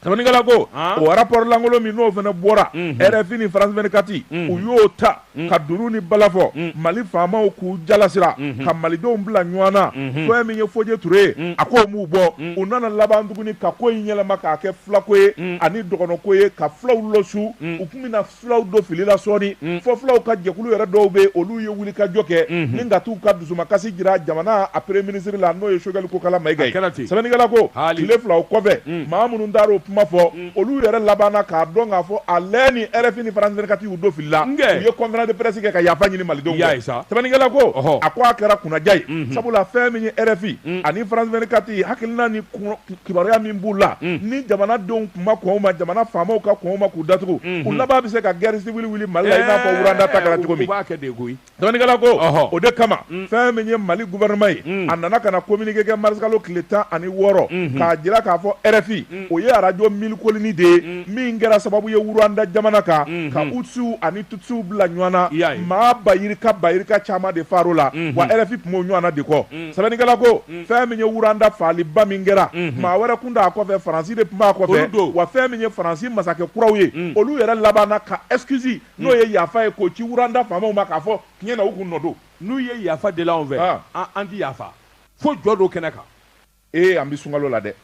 Sɛbɛnnikɛla ko, an, o rapport lankolon min n'o fana bɔra, unhun, RFI ni France 24 unhun, u y'o ta, unhun, ka dunun ni bala fɔ, unhun, Mali faamaw k'u jalasira, unhun, ka Malidenw bila ɲɔgɔn na, unhun, fɛn min ye Fodié Touré ye, unhun, a k'o m'u bɔ, unhun, u nana laban tuguni ka ko in yɛlɛma k'a kɛ fulako ye, unhun, ani dɔgɔnɔko ye ka fulaw lɔsu, unhun, u tun bɛna fulaw don fili la sɔɔni mm. fo fulaw ka jɛkulu yɛrɛ dɔw bɛ olu ye wuli ka jɔ kɛ mm-hmm. ni ka t'u ka dusumakasi jira jamana a premier ministre la n'o ye Choguel Kokalla Maïga ye sɛbɛnnikɛla ko tile fila o kɔfɛ mm. maa minnu taara o kuma fɔ mm. olu yɛrɛ labanna k'a dɔn k'a fɔ a lɛ ni RFI ni France 24 y'u don fili la u ye conférence de presse kɛ ka yafa ɲini malidenw fɛ sɛbɛnnikɛla ko a ko a kɛra kunnaja ye mm-hmm. sabula fɛn min ye RFI ani France 24 hakilina ni kibaruya min b'u la ni jamana denw tun ma kɔn o ma jamana faamaw ka kɔn o ma k'u datugu u laban bɛ se ka guerre civile wuli Mali la i n'a fɔ Rwanda ta kɛra cogo min, u b'a kɛ ten koyi, sɛbɛnnikɛla ko, ɔhɔ, o de kama fɛn min ye Mali gouvernement ye a nana ka na communiqué kɛ mars kalo tile tan ani wɔɔrɔ k'a jira k'a fɔ RFI o ye arajo Mille Collines de ye min kɛra sababu ye Rwanda jamana kan ka Hutusiw ani Tutsiw bila ɲɔgɔn na maa bayirika bayirika caman de faar'o la wa RFI tun b'o ɲɔgɔnna de kɔ sɛbɛnnikɛla ko fɛn min ye wuranda faali ba min kɛra maa wɛrɛ tun t'a kɔfɛ faransi de tun b'a kɔfɛ wa fɛn min ye faransi masakɛ kuraw ye olu yɛrɛ labanna ka excuse n'o ye yafa ye k'o ci wuranda faamaw ma k'a fɔ tiɲɛ na u kun nɔ don n'u ye yafa deli anw fɛ an ti yafa fo jɔ don kɛnɛ kan ee an bɛ sunkalo la dɛ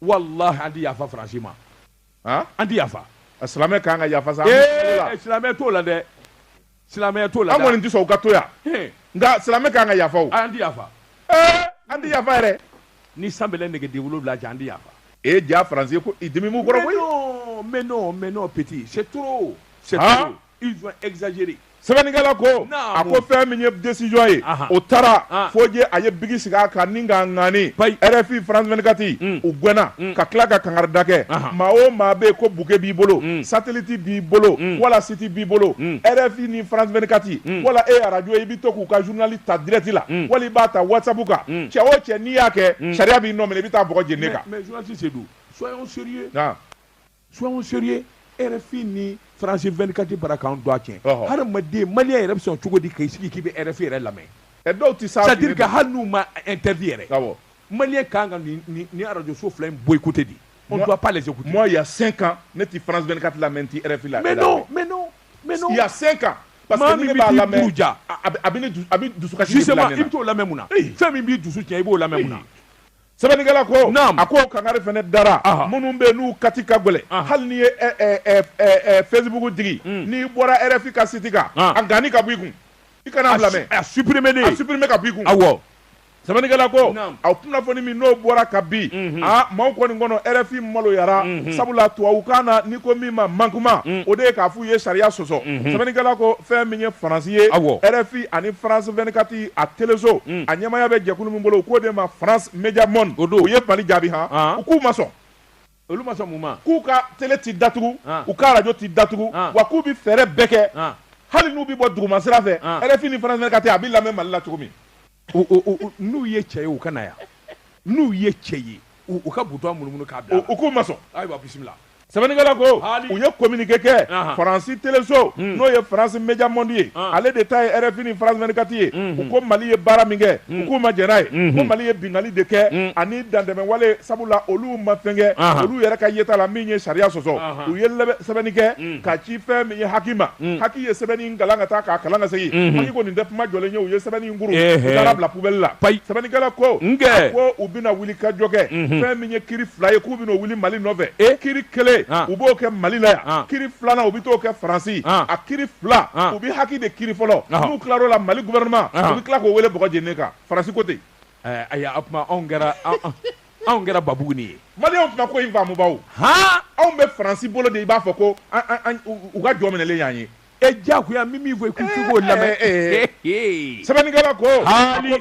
walahi an ti yafa faransi ma an tɛ yafa silamɛ ka kan ka yafa sa silamɛ t'o la dɛ silamɛ t'o la an kɔni tɛ sɔn u ka to yan nka silamɛ ka kan ka yafa an tɛ yafa an tɛ yafa yɛrɛ ni san bɛlɛ nɛgɛden wolonwula jɛ an tɛ yafa e ja faransi ko i dimi kɔrɔ koyi mais non mais non petit c'est trop c'est trop sɛbɛnnikɛla ko a ko fɛn min ye desizɔn ye o taara fo jɛ a ye biki sigi a kan ni ka naani rfi france 24 u gɛnna ka tila ka kangari da kɛ maa o maa bɛ yen ko buke b'i bolo sateliti b'i bolo wala siti b'i bolo rfi ni france 24 wala e arajo i bɛ to k'u ka zurunali ta dirɛti la wala i b'a ta wasabu kan cɛ o cɛ n'i y'a kɛ sariya b'i nɔ minɛ i bɛ taa bɔgɔ jeninen kan soyons sérieux RFI ni France 24 bara k'an don a tiɲɛ Ɔhɔ. hadamaden maliyɛn yɛrɛ bɛ sɔn cogo di k'i sigi k'i bɛ RFI yɛrɛ lamɛn ɛ dɔw tɛ s'a c'est à dire fili que ma. hali n'u ma interdit yɛrɛ Awɔ. maliyɛn ka kan ka nin nin nin arajo so fila in boycotter de on ne Moi- doit pas les écouter moi il y a 5 ans ne tɛ France 24 lamɛn n tɛ RFI la mais non mais non mais non il y a 5 ans parce Maa que ni min ne bɛ b'a t'i lamɛn buruja. a a bɛ a bɛ ne dusu a bɛ dusukasi de bila justement ne i na bɛ t'o lamɛn mun na fɛn min b'i dusu tiɲɛ i b'o lamɛn mun na sɛbɛnnikɛla ko a ko kangari fana dara minnu bɛ n'u kati ka gɛlɛ hali n'i ye facebook digi mm. n'i bɔra rfi ka siti kan a ganni ka b'i kun i kan'a lamɛn a supprimer a supprimer ka b'i kun awɔ sɛbɛnnikɛla ko a kunnafoni min n'o bɔra ka bi mhm. a maaw kɔni kɔnɔ rfi maloyara mhm. sabula tubabukan na n'i ko min ma manquement mm. o de ye k'a fɔ k'u ye sariya sɔsɔ sɛbɛnnikɛla ko fɛn min ye faransi ye rfi ani france 24 a teleso mm. a ɲɛmaaya bɛ jɛkulu min bolo u k'o de ma france media monde o don u ye mali jaabi han ah. u k'u ma sɔn olu ma sɔn mun ma k'u ka tele ti datugu ah. u ka radio ti datugu ah. wa k'u bi fɛɛrɛ bɛɛ kɛ hali n'u bi bɔ duguma sira fɛ rfi ni france 24 a bi lamɛn mali la cogo min n'u ye cɛ ye u ka na yan n'u ye cɛ ye u ka butɔn munumunu k'a bila u k'u ma sɔn ayiwa bisimila sɛbɛnnikɛla ko u ye kominike kɛ faransi teleso hmm. n'o ye france media monde ye ah. ale de ta ye rfi ni france 24 ye hmm, hmm. u ko mali ye baara min kɛ u k'u ma jɛn n'a ye ko mali ye bingali de kɛ ani dantɛmɛwale sabula olu ma fɛnkɛ ah. olu yɛrɛ ka yeta la min ye sariya sɔsɔ ah. u ye sɛbɛnni kɛ ka ci fɛn min ye haki ma haki ye sɛbɛn kalan ka taa k'a kalan ka segin unhun Haki ko nin tɛ kuma jɔlen ye u ye sɛbɛnni in kuru ehe u taar'a bila poubelle la payi sɛbɛnnikɛla ko nkɛ a ko u bɛna wulikajɔ kɛ unhun fɛn min ye kiri fila ye k'u bɛn'o wuli Mali nɔfɛ e kiri kelen an u b'o kɛ Mali la yan an kiri filanan u bɛ t'o kɛ Faransi an a kiri fila an u bɛ haki de kiri fɔlɔ ɔhɔ n'u tilar'o la Mali gouvernement u ɔhɔ bɛ tila k'o wele bɔgɔ jeninen kan Faransi ko ten Ayi o tuma anw kɛra anw kɛra babugunin ye mali o tuma ko in faamubaw ha anw bɛ faransi bolo de i b'a fɔ ko u ka jɔn minɛlen y'an ye e jagoya min min fɔ i'o lamɛn sɛbɛnnikɛla ko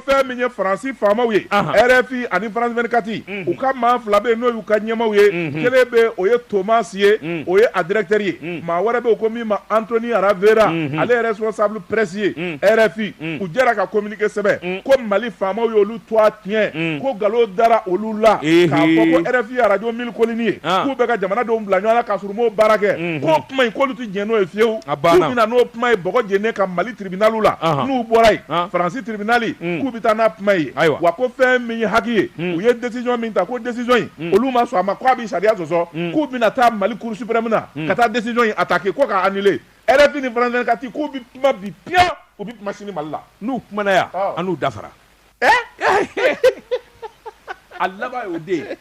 fɛn min ye faransi faamaw ye rfi ani france 24 u ka maa fila bɛ yen n'o y'u ka ɲɛmaaw ye kelen bɛ o ye Thomas ye o ye a directeur ye maa wɛrɛ bɛ ko min ma Anthony Ravera ale ye responsable presse ye rfi u jɛra ka sɛbɛn ko mali faamaw y'olu tɔgɔ tiɲɛ ko nkalon dara olu la k'a fɔ ko rfi radio mille collines ye k'u bɛ ka jamana denw bila ɲɔgɔn na ka sɔrɔ u m'o baara kɛ ko kuma in k'olu tɛ diɲɛ n'o ye fiyewu k'u bɛ na n'o kuma ye jeni ka mali tiribinaliw la n'u bɔra yen faransi tiribinali k'u bɛ taa n'a kuma in ye yen wa ko fɛn min ye HAC ye u ye décision min ta ko décision in olu ma sɔn a ma k'a bɛ sariya sɔsɔ k'u bɛna taa mali cour suprême na ka taa décision in attaquer ko k' rfi ni france 24 k'u bi kuma bi piyan u bi kuma sini mali la n'u kumana yan Awɔ. an n'u dafara a laban y'o de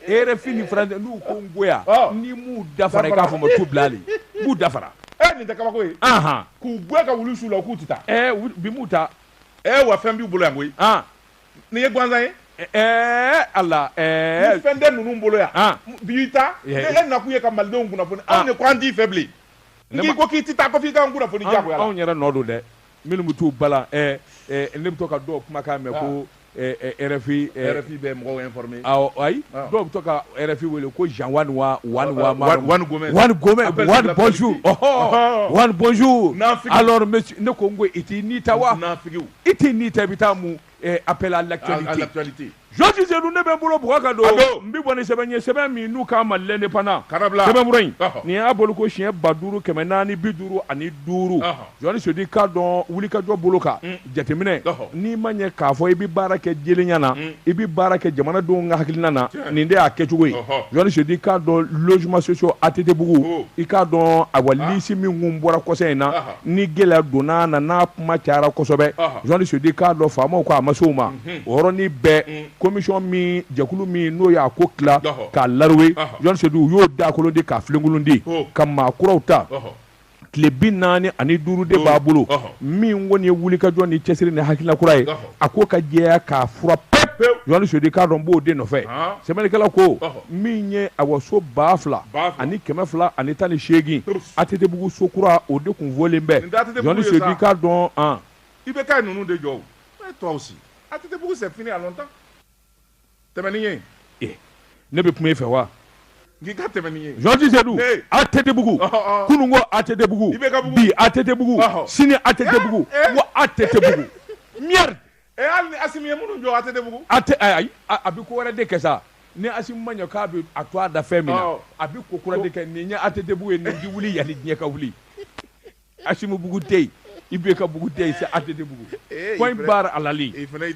ye rfi ni france n'u ko n goya Awɔ. ni m'u dafara i k'a fɔ ma tu bila ale n b'u dafara ɛ nin tɛ kabako ye anhan k'u gɛn ka wulu su u la k'u ti taa ɛɛ u- bi mun ta ɛ wa fɛn b'u bolo yan koyi an nin ye gansan ye ɛɛ ala ni ɛɛ fɛn tɛ ninnu bolo yan an b'i ta Ye. ne e nakun ye ka malidenw kunnafoni Ah. anw de ko an t'i fɛ bilen n'i ko k'i tɛ taa ko f'i k'an kunnafoni jagoya la anw yɛrɛ nɔ don dɛ minnu bɛ t'u bala ɛ ɛ ne bɛ to ka dɔw kumakan mɛn ko RFI RFI bɛ mɔgɔw informer awɔ ayi dɔw bɛ to ka RFI wele ko Jean Juan wa Juan wa Juan Gomez Juan Gomez Juan bonjour ɔhɔ Juan bonjour alors monsieur ne ko n ko i t'i ni ta wa naafigiw i t'i ni ta i bɛ taa mun Appels sur l'actualité jɔsise ne bɛ n bolo bugɔ ka don n bɛ bɔ ni sɛbɛn ye sɛbɛn min n'u k'a ma L'Indépendant in nin y'a bolo ko siɲɛ ba duuru kɛmɛ naani bi duuru ani duuru jeli Sidi k'a dɔn wuli ka jɔ bolo kan jateminɛ n'i ma ɲɛ k'a fɔ i bɛ baara kɛ jɛlenya na i bɛ baara kɛ jamanadenw ka hakilina na nin de y'a kɛcogo ye jeli Sidi k'a dɔn logements sociaux ATTbugu i k'a dɔn ayiwa lisi min tun bɔra kɔsa in na ni gɛlɛya donna a na n'a kuma cayara kosɛbɛ Ɔhɔ. jeli Sidi k'a dɔn faamaw ko a ma se o ma o yɔrɔnin bɛɛ commission min jɛkulu min n'o y'a ko tila Ɔhɔ. k'a laruwe Ɔhɔ. jeli Sidi u y'o dagakolon di k'a filenkolon di Ho. ka maa kuraw ta Ɔhɔ. tile bi naani ani duuru de b'a bolo Ɔhɔ. min kɔni ye wulikajɔ ni cɛsiri ni hakilila kura ye Ɔhɔ. a ko ka jɛya k'a furan pe jeli Sidi k'a dɔn b'o de nɔfɛ sɛbɛnnikɛla ko min ye awɔ so ba fila ani kɛmɛ fila ani tan ni seegin ATTbugu so kura o de tun fɔlen bɛ jeli Sidi k'a dɔn i bɛ taa ninnu de jɔ si ATTbugu tɛmɛni ye ne bɛ kuma e fɛ wa n'i ka tɛmɛni ye janti sedu atetebugu kunun ko atetebugu bi atetebugu sini atetebugu wa atetebugu merde ee hali ni asimi ye minnu jɔ atetebugu ate ayi a bɛ ko wɛrɛ de kɛ sa ni asimi ma ɲɛ k'a bɛ a tɔgɔ da fɛn min na a bɛ ko kura de kɛ nin ye atetebugu ye nin ji wuli yani diɲɛ ka wuli Asimi bugu tɛ yen IBK bugu tɛ yen c'est ATT bugu eh, point barre à la ligne fara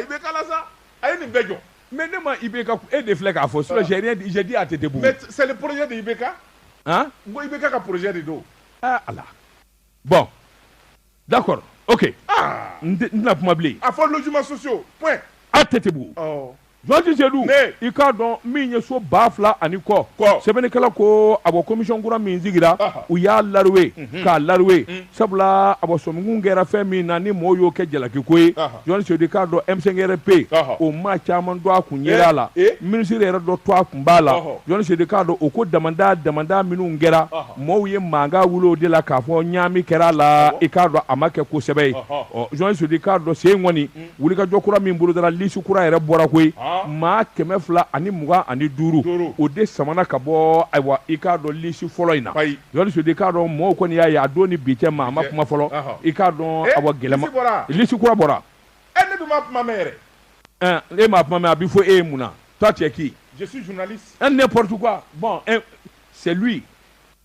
IBK la sa a ye nin bɛɛ jɔ mais ne ma IBK e de filɛ k'a fɔ sɔ j'ai dit ATT bugu mais c'est le projet de IBK han n ko IBK ka projet de don aa ah, ah bon d'accord ok ah. n tɛna kuma bilen a fɔ logements sociaux point ATT bugu Janti Sedu i k'a dɔn min ye so ba fila ani kɔ ko sɛbɛnnikɛla ko a bɔ komisɔn kura min sigira u y'a lawe k'a lawe sabula a sɔnkun kɛra fɛn min na ni mɔgɔw y'o kɛ jalakiko ye Janti Sedu i k'a dɔn M5 RFP o maa caman tɔgɔ kun yera a la minisiri yɛrɛ dɔ tɔgɔ kun b'a la Janti Sedu i k'a dɔn o ko damadama minnu kɛra mɔgɔw ye mankan wuli o de la k'a fɔ ɲaami kɛra a la i k'a dɔn a ma kɛ ko sɛbɛ ye Janti Sedu i k'a dɔn sen kɔni wulikajɔ kura min bolodara lisi kura yɛrɛ bɔra koyi maa kɛmɛ fila ani mugan ani duuru o de samana ka bɔ ayiwa i k'a dɔn lisi fɔlɔ in na Jan Sedu i k'a dɔn mɔgɔw kɔni y'a ye a don ni bi cɛ maa ma kuma fɔlɔ i k'a dɔn eh, awa yɛlɛma lisi kura bɔra eh, ne ma kuma mɛn yɛrɛ eh, e ma kuma mɛn a bɛ fɔ e ye mun na toi tu es qui je suis journaliste un n'importe quoi bon c'est lui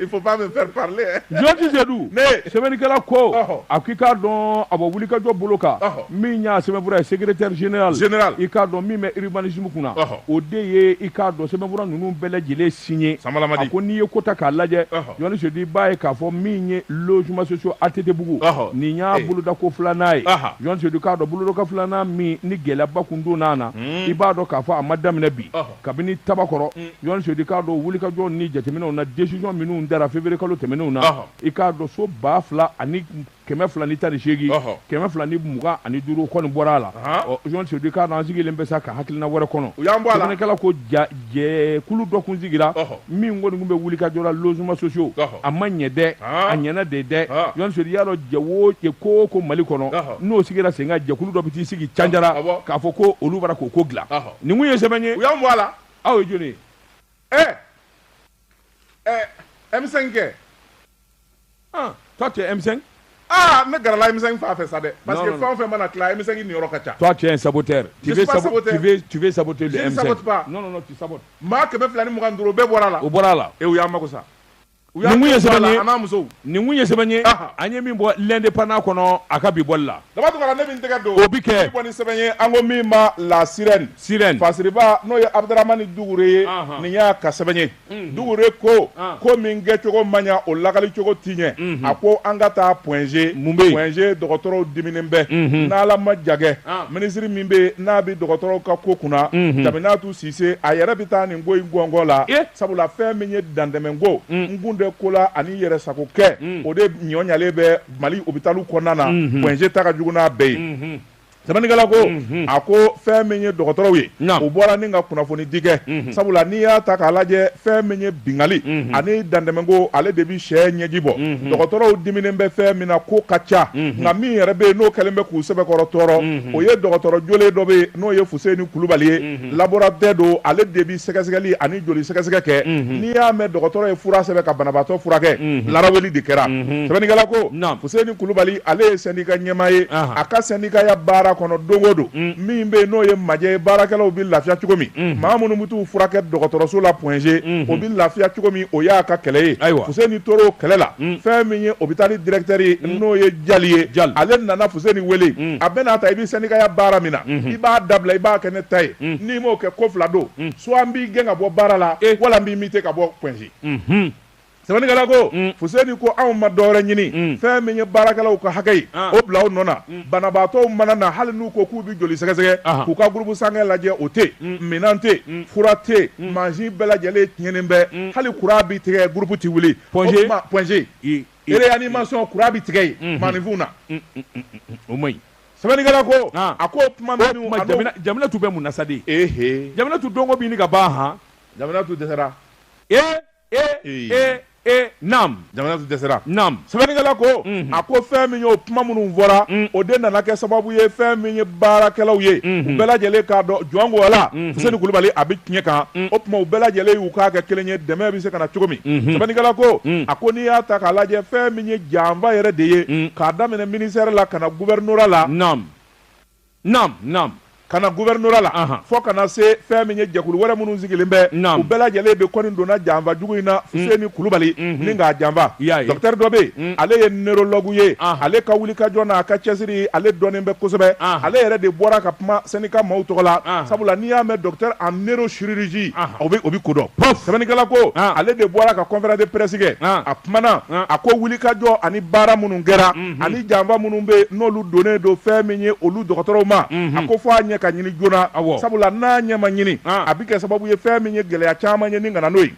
Il faut pas me faire parler. Hein. Janti Sedu. Ne. Sɛbɛnnikɛla ko. Ɔhɔ. A k'i k'a dɔn a bɔ wulikajɔ bolo kan. Ɔhɔ. Min y'a sɛbɛnfura ye secrétaire général. Général. I k'a dɔn min bɛ urbanisme kunna. Ɔhɔ. O de ye i k'a dɔn sɛbɛnfura ninnu bɛɛ lajɛlen signé. Sanbala Madi. A ko n'i ye ko ta k'a lajɛ. Ɔhɔ. Jan Sedu i b'a ye k'a fɔ min ye logement sociaux ATT bugu. Ɔhɔ. Nin y'a eh. bolodako filanan ye. Ɔhɔ. Jan Sedu k'a dɔn bolodako filanan min ni gɛlɛyaba kun donna a na. Hmm. I b'a dɔn k'a fɔ a ma daminɛ bi. Ɔhɔ. kabini tabakɔrɔ jan sedu i k'a dɔn wulikajɔ ni jateminɛw na desisɔn minnu dara feburuye kalo tɛmɛnenw na i k'a dɔn so ba fila ani kɛmɛ fila ni tan ni seegin kɛmɛ fila ni mugan ani duuru kɔni bɔra a la jan sedu i k'a dɔn an sigilen bɛ sa ka hakilina wɛrɛ kɔnɔ sɛbɛnnikɛla ko jɛkulu dɔ kun sigira min kɔni tun bɛ wulikajɔ la logements sociaux a ma ɲɛ dɛ a ɲɛna de dɛ jan sedu i y'a dɔn jɛ o jɛ ko o ko mali kɔnɔ n'o sigira sen kan jɛkulu dɔ bɛ t'i sigi canjara k'a fɔ ko olu b'a ra k'o ko dilan Ne kun ye sɛbɛn ye u y'an bɔ a la aw ye jɔni ye ɛ ɛ M5 kɛ ah toi tu es M5 ah n bɛ gɛrɛ la M5 fan fɛ sa dɛ parce que fɛn o fɛn mana tila M5 niyɔrɔ ka ca toi tu es un saboteur tu veux saboter tu veux tu veux saboter le M5 je ne sabote pas non non non tu sabotes maa kɛmɛ fila ni mugan ni duuru o bɛɛ bɔra a la o bɔra a la et u y'an mago sa U y'a Nin kun ye sɛbɛn ye. a n'a musow. nin kun ye sɛbɛn ye Aha. an ye min bɔ l'indépendant kɔnɔ a ka bi bɔli la Daba tugara ne min tɛgɛ don. O bi kɛ. Bi bɔ ni sɛbɛn ye an ko min ma La Sirène. Sirène. Fasiriba n'o ye Abudaramani Dukure ye. Anhan. Nin y'a ka sɛbɛn ye. Dukure ko An. ko min kɛcogo ma ɲa o lakali cogo ti ɲɛ. A ko an ka taa point G. Mun bɛ yen? Point G dɔgɔtɔrɔw diminen bɛ. N'Ala ma ja kɛ. An. Minisiri min bɛ yen n'a bɛ dɔgɔtɔrɔw ka ko kunna. Jaminatu Sise a yɛrɛ bɛ taa nin ko in gɔngɔn la, ee, sabula fɛn min ye dantɛmɛ ko, un, n kun tɛ ko la ani n yɛrɛ sago kɛ, un, o de juguyalen bɛ Mali hôpitaux kɔnɔna na, unhun, Point G ta ka jugu n'a bɛɛ ye, unhun, sɛbɛnnikɛla ko, unhun, a ko fɛn min ye dɔgɔtɔrɔw ye, naamu, u bɔra ni ka kunnafoni di kɛ, unhun, sabula n'i y'a ta k'a lajɛ fɛn min ye bingali, unhun, ani dantɛmɛ ko ale de bɛ cɛ ɲɛji bɔ mhm. dɔgɔtɔrɔw diminen bɛ fɛn min na ko ka ca mhm. nka min yɛrɛ bɛ yen n'o kɛlen bɛ k'u sɛbɛkɔrɔ tɔɔrɔ mhm. o ye dɔgɔtɔrɔ jolen dɔ bɛ yen n'o ye fuseni kulubali ye laborantin don ale de bɛ sɛgɛsɛgɛli ani joli sɛgɛsɛgɛ kɛ n'i y'a mɛn dɔgɔtɔrɔ ye fura sɛbɛn ka banabaatɔ furakɛ laraweli de kɛra sɛbɛnnikɛla ko fuseni kulubali ale ye sɛndika ɲɛmaa ye a ka sɛndikaya baara kɔnɔ don o don mm. min bɛ yen n'o ye majɛ ye baarakɛlaw bɛ lafiya cogo min maa minnu bɛ t'u furakɛ dɔgɔtɔrɔso la Point G o bɛ lafiya cogo min o y'a ka kɛlɛ ye fuseni tora o kɛlɛ la fɛn min ye hôpital directeur ye n'o ye jali ye jali ale nana fuseni weele a bɛna n'a ta i bɛ sɛndikaya baara min na i b'a dabila i b'a kɛ ne ta ye n'i m'o kɛ ko fila don soit n b'i gɛn ka bɔ baara la e wala n b'i muter ka bɔ Point G sɛbɛnnikɛla ko fuseni ko anw ma dɔ wɛrɛ ɲini fɛn min ye baarakɛlaw ka hakɛ ye o bila o nɔ banabaatɔw mana na hali n'u ko k'u bɛ joli sɛgɛsɛgɛ k'u ka groupe sanguin lajɛ o tɛ mm. minɛn tɛ mm. fura tɛ mm. masin bɛɛ lajɛlen tiɲɛnen bɛ hali kuran bɛ tigɛ groupe tɛ wuli Point G réanimation kuran bɛ tigɛ yen mm-hmm. maninfin na o ma sɛbɛnnikɛla ko a ko ko ma jaminatu bɛ mun na sa de jaminatu dɔnko bɛ ɲini ka ban han jaminatu dɛsɛra ee e e naamu jaminatu dɛsɛra naamu sɛbɛnnikɛla ko a ko fɛn min ye o kuma minnu fɔra mm. o de nana kɛ sababu ye fɛn min ye baarakɛlaw ye mm-hmm. u bɛɛ lajɛlen k'a dɔn jɔn ko ala mm-hmm. fuseni kulubali a bɛ tiɲɛ kan mm. o tuma u bɛɛ lajɛlen y'u kan kɛ kelen ye dɛmɛ bɛ se ka na cogo min mm-hmm. sɛbɛnnikɛla ko mm. a ko n'i y'a ta k'a lajɛ fɛn min ye janfa yɛrɛ de ye k'a daminɛ ministɛri la ka na guvɛrinora la naamu Naam naam ka na gouvernorat la Anhan. fo ka na se fɛn min ye jɛkulu wɛrɛ minnu sigilen bɛ Naam. u bɛɛ lajɛlen de kɔni donna janfa jugu in na Fuseni Kulubali Mhm. ni k'a janfa I y'a ye. docteur dɔ bɛ yen ale ye neurologue ye Anhan. ale ka wulikajɔ n'a ka cɛsiri ale dɔnnen bɛ kosɛbɛ Anhan. ale yɛrɛ de bɔra ka kuma sɛndika maaw tɔgɔ la Anhan. sabula n'i y'a mɛn docteur en neurochirurgie Anhan. o bɛ o bɛ ko dɔn sɛbɛnnikɛla ko Anhan. ale de bɔra ka conférence de presse kɛ Anhan. a kumana Anhan. a ko wulikajɔ ani baara minnu kɛra Mhm. ani janfa minnu bɛ yen n'olu donnen don fɛn min ye olu dɔgɔtɔrɔw ma mhm. a ko fɔ a ɲɛ ka ɲini joona sabula n'a ɲɛ ma ɲini ah. a bɛ kɛ sababu ye fɛn min ye gɛlɛya caman ye nin ka na n'o ye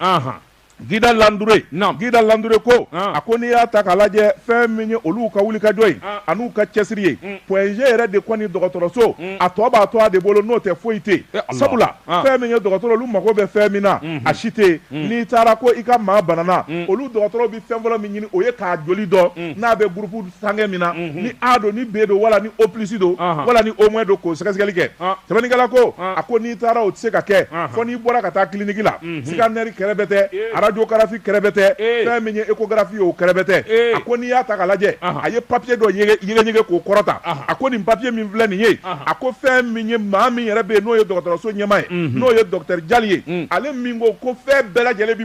Guida Landouré Guida Landouré ko ah. a ko n'i y'a ta k'a lajɛ fɛn min ye olu ka wulikajɔ ye ah. an'u ka cɛsiri ye mm. Point G yɛrɛ de kɔni dɔgɔtɔrɔso mm. a tɔ b'a to a de bolo n'o tɛ foyi tɛ eh, sabula fɛn min ye dɔgɔtɔrɔ olu mago bɛ fɛn min na mm-hmm. a si tɛ mm. n'i taara ko i ka maa banana olu dɔgɔtɔrɔ fɛn fɔlɔ min ɲini o ye k'a joli dɔn mm. n'a bɛ groupe sanguin min na mm-hmm. ni A don ni B don wala ni O plus don wala ni O moins don k'o sɛgɛsɛgɛli kɛ ah. sɛbɛnnikɛla ko ah. a ko n'i taara o tɛ se ka kɛ fɔ n'i bɔra ka taa clinique la mm-hmm. scanner kɛrɛbɛtɛ eh. radiographie kɛrɛbɛtɛ eh. fɛn min ye échographie ye o kɛrɛbɛtɛ eh. a ko n'i y'a ta k'a lajɛ a ye papier dɔ yɛgɛyɛgɛ k'o kɔrɔta a ko nin papier min filɛ nin ye a ko fɛn min ye maa min yɛrɛ bɛ yen n'o ye dɔgɔtɔrɔso ɲɛmaa ye mm-hmm. n'o ye docteur Diall ye mm. ale min ko ko fɛn bɛɛ lajɛlen bi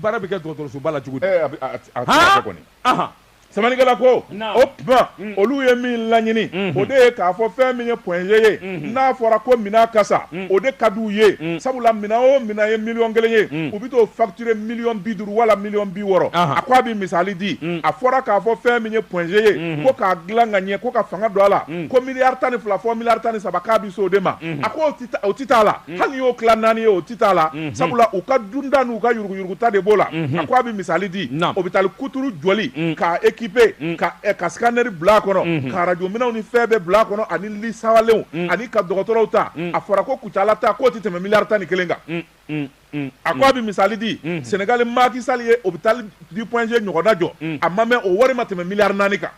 Baara bɛ kɛ dɔgɔtɔrɔsoba la cogo sɛbɛnnikɛla ko o tuma olu ye min laɲini o de ye k'a fɔ fɛn min ye Point G ye n'a fɔra ko minɛn ka san o de ka di u ye sabula minɛn o minɛn ye miliyɔn kelen ye u bɛ t'o facturé miliyɔn bi duuru wala miliyɔn bi wɔɔrɔ a ko a bɛ misali di a fɔra k'a fɔ fɛn min ye Point G ye ko k'a dila ka ɲɛ ko ka fanga don a la ko miliyari tan ni fila fɔ miliyari tan ni saba k'a bɛ se o de ma a ko o tɛ t'a la Mm. hali y'o tila naani ye o ti t'a la mm-hmm. sabula u ka dunta n'u ka yuruguyuruguta de b'o la mm-hmm. a ko a bɛ misali di hôpital kuturu jɔli mm. k'a équipé mm. ka eh, ka scanner bila a kɔnɔ mm-hmm. ka radio minɛnw ni fɛn bɛɛ bila a kɔnɔ ani li sawalenw ani ka dɔgɔtɔrɔw ta a fɔra ko Kucala ta k'o tɛ tɛmɛ miliyari tan ni kelen kan a ko a bɛ misali di Sénégal Macky Sall ye hôpital du point G ɲɔgɔnna jɔ a ma mɛn o wari ma tɛmɛ miliyari naani kan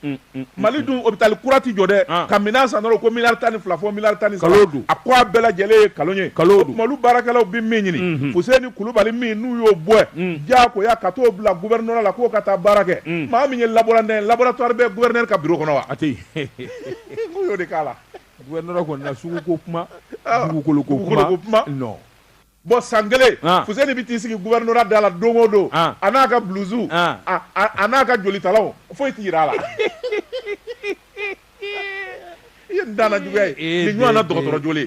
mm, mm, mali dun hôpital kura ti jɔ dɛ ah. ka minɛn san dɔrɔn ko miliyari tan ni fila fɔ miliyari tan ni saba a ko a bɛɛ lajɛlen ye kalon ye o tuma olu baarakɛlaw bɛ min ɲini mm-hmm. fuseni kulubali min n'u y'o bɔ mm. diyagoya ka t'o bila gouvernorat la k'o ka taa baara kɛ mm. maa min ye laborantin laboratwari bɛ guvɛrinɛri ka biro kɔnɔ wa a tɛ yen k'u y'o de k'a la guvɛrinɛri kɔni na suguko kuma ah. dugukolo ko kuma non bɔn san kelen fuseni bɛ t'i sigi gouvernorat da la don o don a n'a ka blusu a n'a ka jolitalanw foyi tɛ jira a la i ye dan juguya ye nin ɲɔgɔn dɔgɔtɔrɔ joli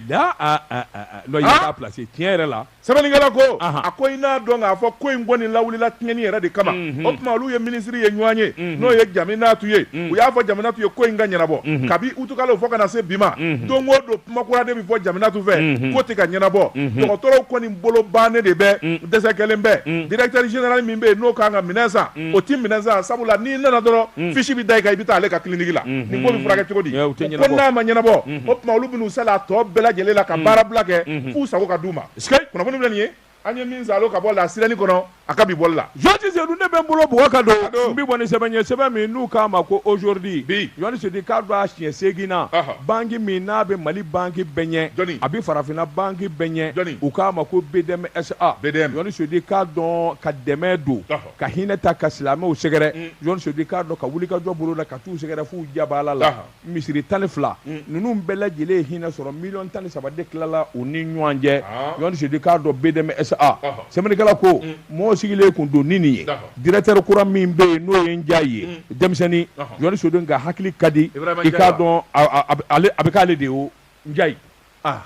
plasi tiɲɛ yɛrɛ la sɛbɛnnikɛla ko a ko i n'a dɔn k'a fɔ ko in kɔni lawulila tiɲɛni yɛrɛ de kama o tuma olu ye minisiri ye ɲɔgɔn ye n'o ye Jaminatu ye u y'a fɔ Jaminatu ye ko in ka ɲɛnabɔ kabi uti kalo fo ka na se bi ma don o don kuma kura de bɛ fɔ Jaminatu fɛ ko tɛ ka ɲɛnabɔ dɔgɔtɔrɔw kɔni bolo bannen de bɛ dɛsɛ kɛlen bɛ directeur général min bɛ yen n'o kan ka minɛn san o tɛ minɛn san sabula n'i nana dɔrɔn fisi bɛ da i kan i bɛ taa ale ka clinique la nin ko bɛ furakɛ cogo di ko n'a ma ɲɛnabɔ o tuma olu bɛ sa a tɔ bɛɛ lajɛlen la ka baara bila kɛ fo u sago ka d'u ma kunnafoni filɛ nin ye an ye min salo ka bɔ la sirani kɔnɔ a ka bi bɔli la jɔti sedu ne bɛ n bolo bugɔ ka don n bi bɔ ni sɛbɛn ye sɛbɛn min n'u k'a ma ko aujourd'hui bi jɔni sedu i k'a dɔn a siɲɛ seegin na banki min n'a bɛ mali banki bɛɛ ɲɛ jɔni a bɛ farafinna banki bɛɛ ɲɛ jɔni u k'a ma ko bdm sa bdm jɔni sedu i k'a dɔn ka dɛmɛ don ka hinɛ ta ka silamɛw sɛgɛrɛ jɔni sedu i k'a dɔn ka wulikajɔ boloda ka t'u sɛgɛrɛ f'u jabaala la misiri tan ni fila mm. ninnu bɛɛ lajɛlen ye hinɛ sɔrɔ miliyɔn tan ni saba de tilala u ni ɲɔgɔn cɛ ah. jɔnti sedu i k'a dɔn bdm sa ah. ah. sɛbɛnnikɛla ko mm. mɔgɔw sigilen kun don ni nin ye directeur kura min bɛ yen n'o ye njayi mm. denmisɛnnin jɔnti sedu nk'a hakili ka di i k'a dɔn a bɛ k'ale de ye o njayi ah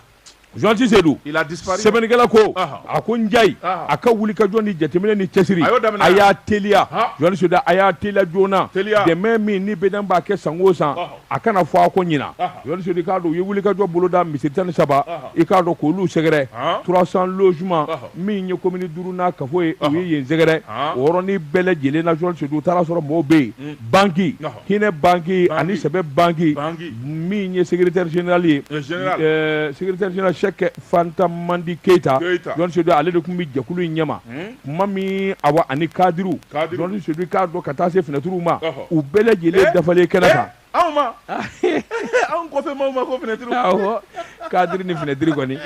journaliste Sedu il a disparu sɛbɛnnikɛla ko Aha. a ko Njayi Aha. a ka wulikajɔ ni jateminɛ ni cɛsiri A y'o daminɛ a y'a teliya Ha. journaliste Sedu a y'a teliya joona Teliya. dɛmɛ min ni BDM b'a kɛ san o san Aha. a kana fɔ a kɔ ɲinan Aha. journaliste Sedu i k'a dɔn u ye wulikajɔ boloda misiri tan ni saba Aha. i k'a dɔn k'olu sɛgɛrɛ Han. 300 logement Aha. min ye commune duuru n'a kafo ye u ye yen sɛgɛrɛ Han. o yɔrɔnin bɛɛ lajɛlen na journaliste Sedu u taara a sɔrɔ mɔɔw bɛ yen banki Aha. hinɛ banki Banki. ani sɛbɛ banki Banki. min ye secrétaire général ye secrétaire général Sɛki Fanta Madi Keyita Jɔn Sedu ale de tun bɛ jɛkulu in ɲɛma tuma min awa ani kadiriw Jɔn Sedu i k'a dɔn ka taa se finɛtiriw ma u bɛɛ lajɛlen dafalen kɛnɛ kan anw ma anw kɔfɛ maaw ma ko finɛtiriw awɔ kadiri ni finɛtiri kɔni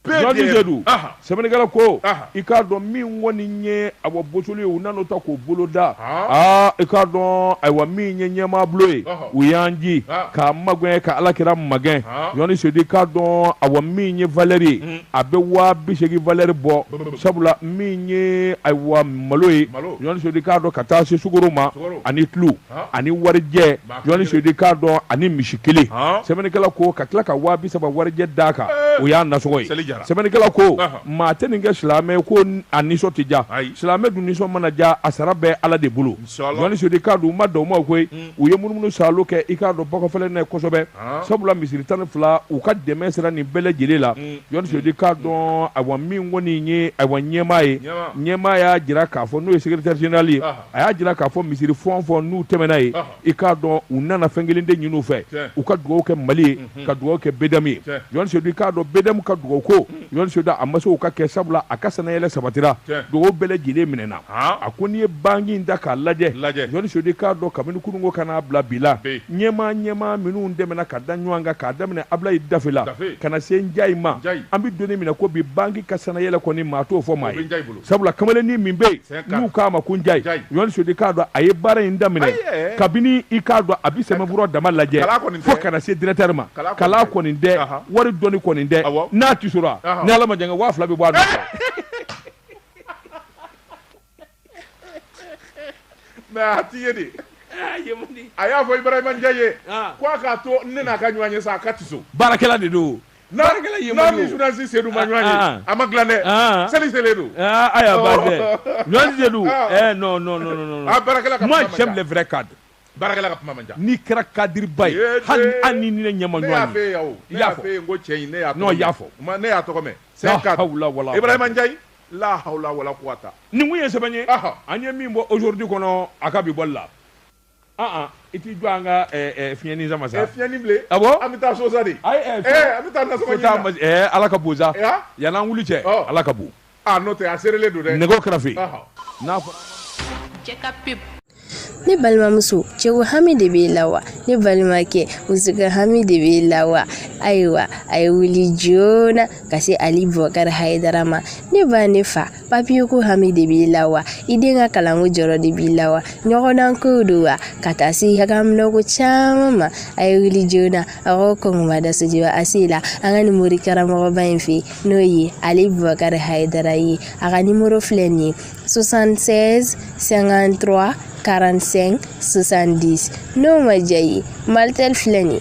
sɛbɛnnikɛla ko i k'a dɔn min kɔni ye a bɔ boli ye u nan'o ta k'o bolo da aa i k'a dɔn ayiwa min ye ɲɛmaabolo ye u y'an ji k'a magɛn ka ala kira magɛn jɔnti sedu i k'a dɔn awa min ye valɛri ye a bɛ waa bi seegin valɛri bɔ sabula min ye ayiwa malo ye jɔnti sedu i k'a dɔn ka taa se sukaro ma ani tulu ani warijɛ journaliste sedu i k'a dɔn ani misi kelen sɛbɛnnikɛla ko ka tila ka waa bi saba warijɛ d'a kan o y'a nasɔngɔ ye sɛbɛnnikɛla ko maa tɛ nin kɛ silamɛ ko a nisɔn tɛ ja silamɛ dun nisɔn mana ja a sara bɛ ala de bolo journaliste sedu i k'a dɔn u ma dan o ma koyi u ye munumunu salo kɛ i k'a dɔn ba kɔfɛla la kosɛbɛ sabula misiri tan ni fila u ka dɛmɛ sera nin bɛɛ lajɛlen la journaliste sedu i k'a dɔn ayiwa min kɔni ye ayiwa ɲɛmaa ye ɲɛmaa y'a jira k'a fɔ n'o ye secrétaire général ye a y'a jira k'a fɔ misiri fɛn o fɛn n'u tɛmɛna yen i k'a dɔn u nana fɛn kelen de ɲini u fɛ u ka dugawu kɛ mali ye mhm. ka dugawu kɛ bdm ye jɔn sedu i k'a dɔn bdm ka dugawu ko jɔn sedu a ma sɔn u k'a kɛ sabula a ka sannayɛlɛn sabatira dugawu bɛɛ lajɛlen minɛna a ko n'i ye banki in ta k'a lajɛ jɔn sedu i k'a dɔn kabini kunun ko ka n'a bila bi la ɲɛmaa ɲɛmaa minnu tɛmɛna ka da ɲɔgɔn kan k'a daminɛ abulayi dafe la ka na se njayi ma an bɛ doni minɛ ko bi banki ka sannayɛlɛn kɔni maa t'o fɔ maa ye sabula kamalennin min bɛ yen n'u k'a ma ko njayi ɲɔni sodi k'a dɔn a ye baara in daminɛ kabini i k'a dɔn a bɛ sɛmɛbura dama lajɛ fo ka na se directeur ma kalan kɔni dɛ wari dɔni kɔni dɛ n'a tisora ni ala ma jan kɛ waa fila bɛ bɔ a nun mais a ti ye de a y'a fɔ ibrahima njayi ye ko a k'a to ne n'a ka ɲɔgɔn ye sa a ka tiso baarakɛla de don N'a Baarakɛla n'a ɲɛmɔgɔ ni ye o. journaliste Seydou ma ɲɔgɔn ye, Ah, ah. a ma dilan dɛ, Ah. seli selen don. Ah, aya ba dɛ. Ɲɔni de don. Ah. Eh, non, non, non, non, non. Ah, baarakɛla ka Moi, kuma man j'aime ca. les vrais cadres. Baarakɛla ka kuma man ca. N'i kɛra kadiriba ye, Ee, hali ee. hali ni ni ne ɲɛ ma Ne y'a ɲɔgɔn f'e ye ye. yan o. I Ne y'a y'a fɔ. f'e ye n ko cɛ in, ne y'a tɔgɔ Non, mɛn. i y'a fɔ. N ma- Ne y'a tɔgɔ mɛn. C'est La un cadre. hawla wala Ibrahima Ndiaye, la hawla wala quwata. Nin kun ye sɛbɛn ye. Ɔhɔ. An ye min bɔ aujourd'hui kɔnɔ, a ka bi bɔli la. i t'i jɔ an ka fiɲɛyɛnin sama sa fiɲɛyɛnin bilen a an bɛ taa so sa de an bɛ taa ala ka bon sa yan an wuli cɛ ala ka bon n'o tɛ a seerelen don dɛ nɛgɛ kɛrɛfɛfe n'a fɔ ne balimamuso cɛko hami de b'i la wa ne balimakɛ musoko hami de b'i la wa ayiwa a ye wuli joona ka se ali bɔkari hayidara ma ne ba ne fa papiye ko hami de b'i la wa i den ka kalanko jɔrɔ de b'i la wa ɲɔgɔndan kow don wa ka taa se haminanko caman ma a ye wuli joona a ko kɔngɔma dasujiba a se la an ka nin mori karamɔgɔba in fɛ n'o ye ali bubakari hayidara ye a ka nimoro filɛ nin ye 76 53 45 70 n'o ma diya i ye malitel filɛ nin ye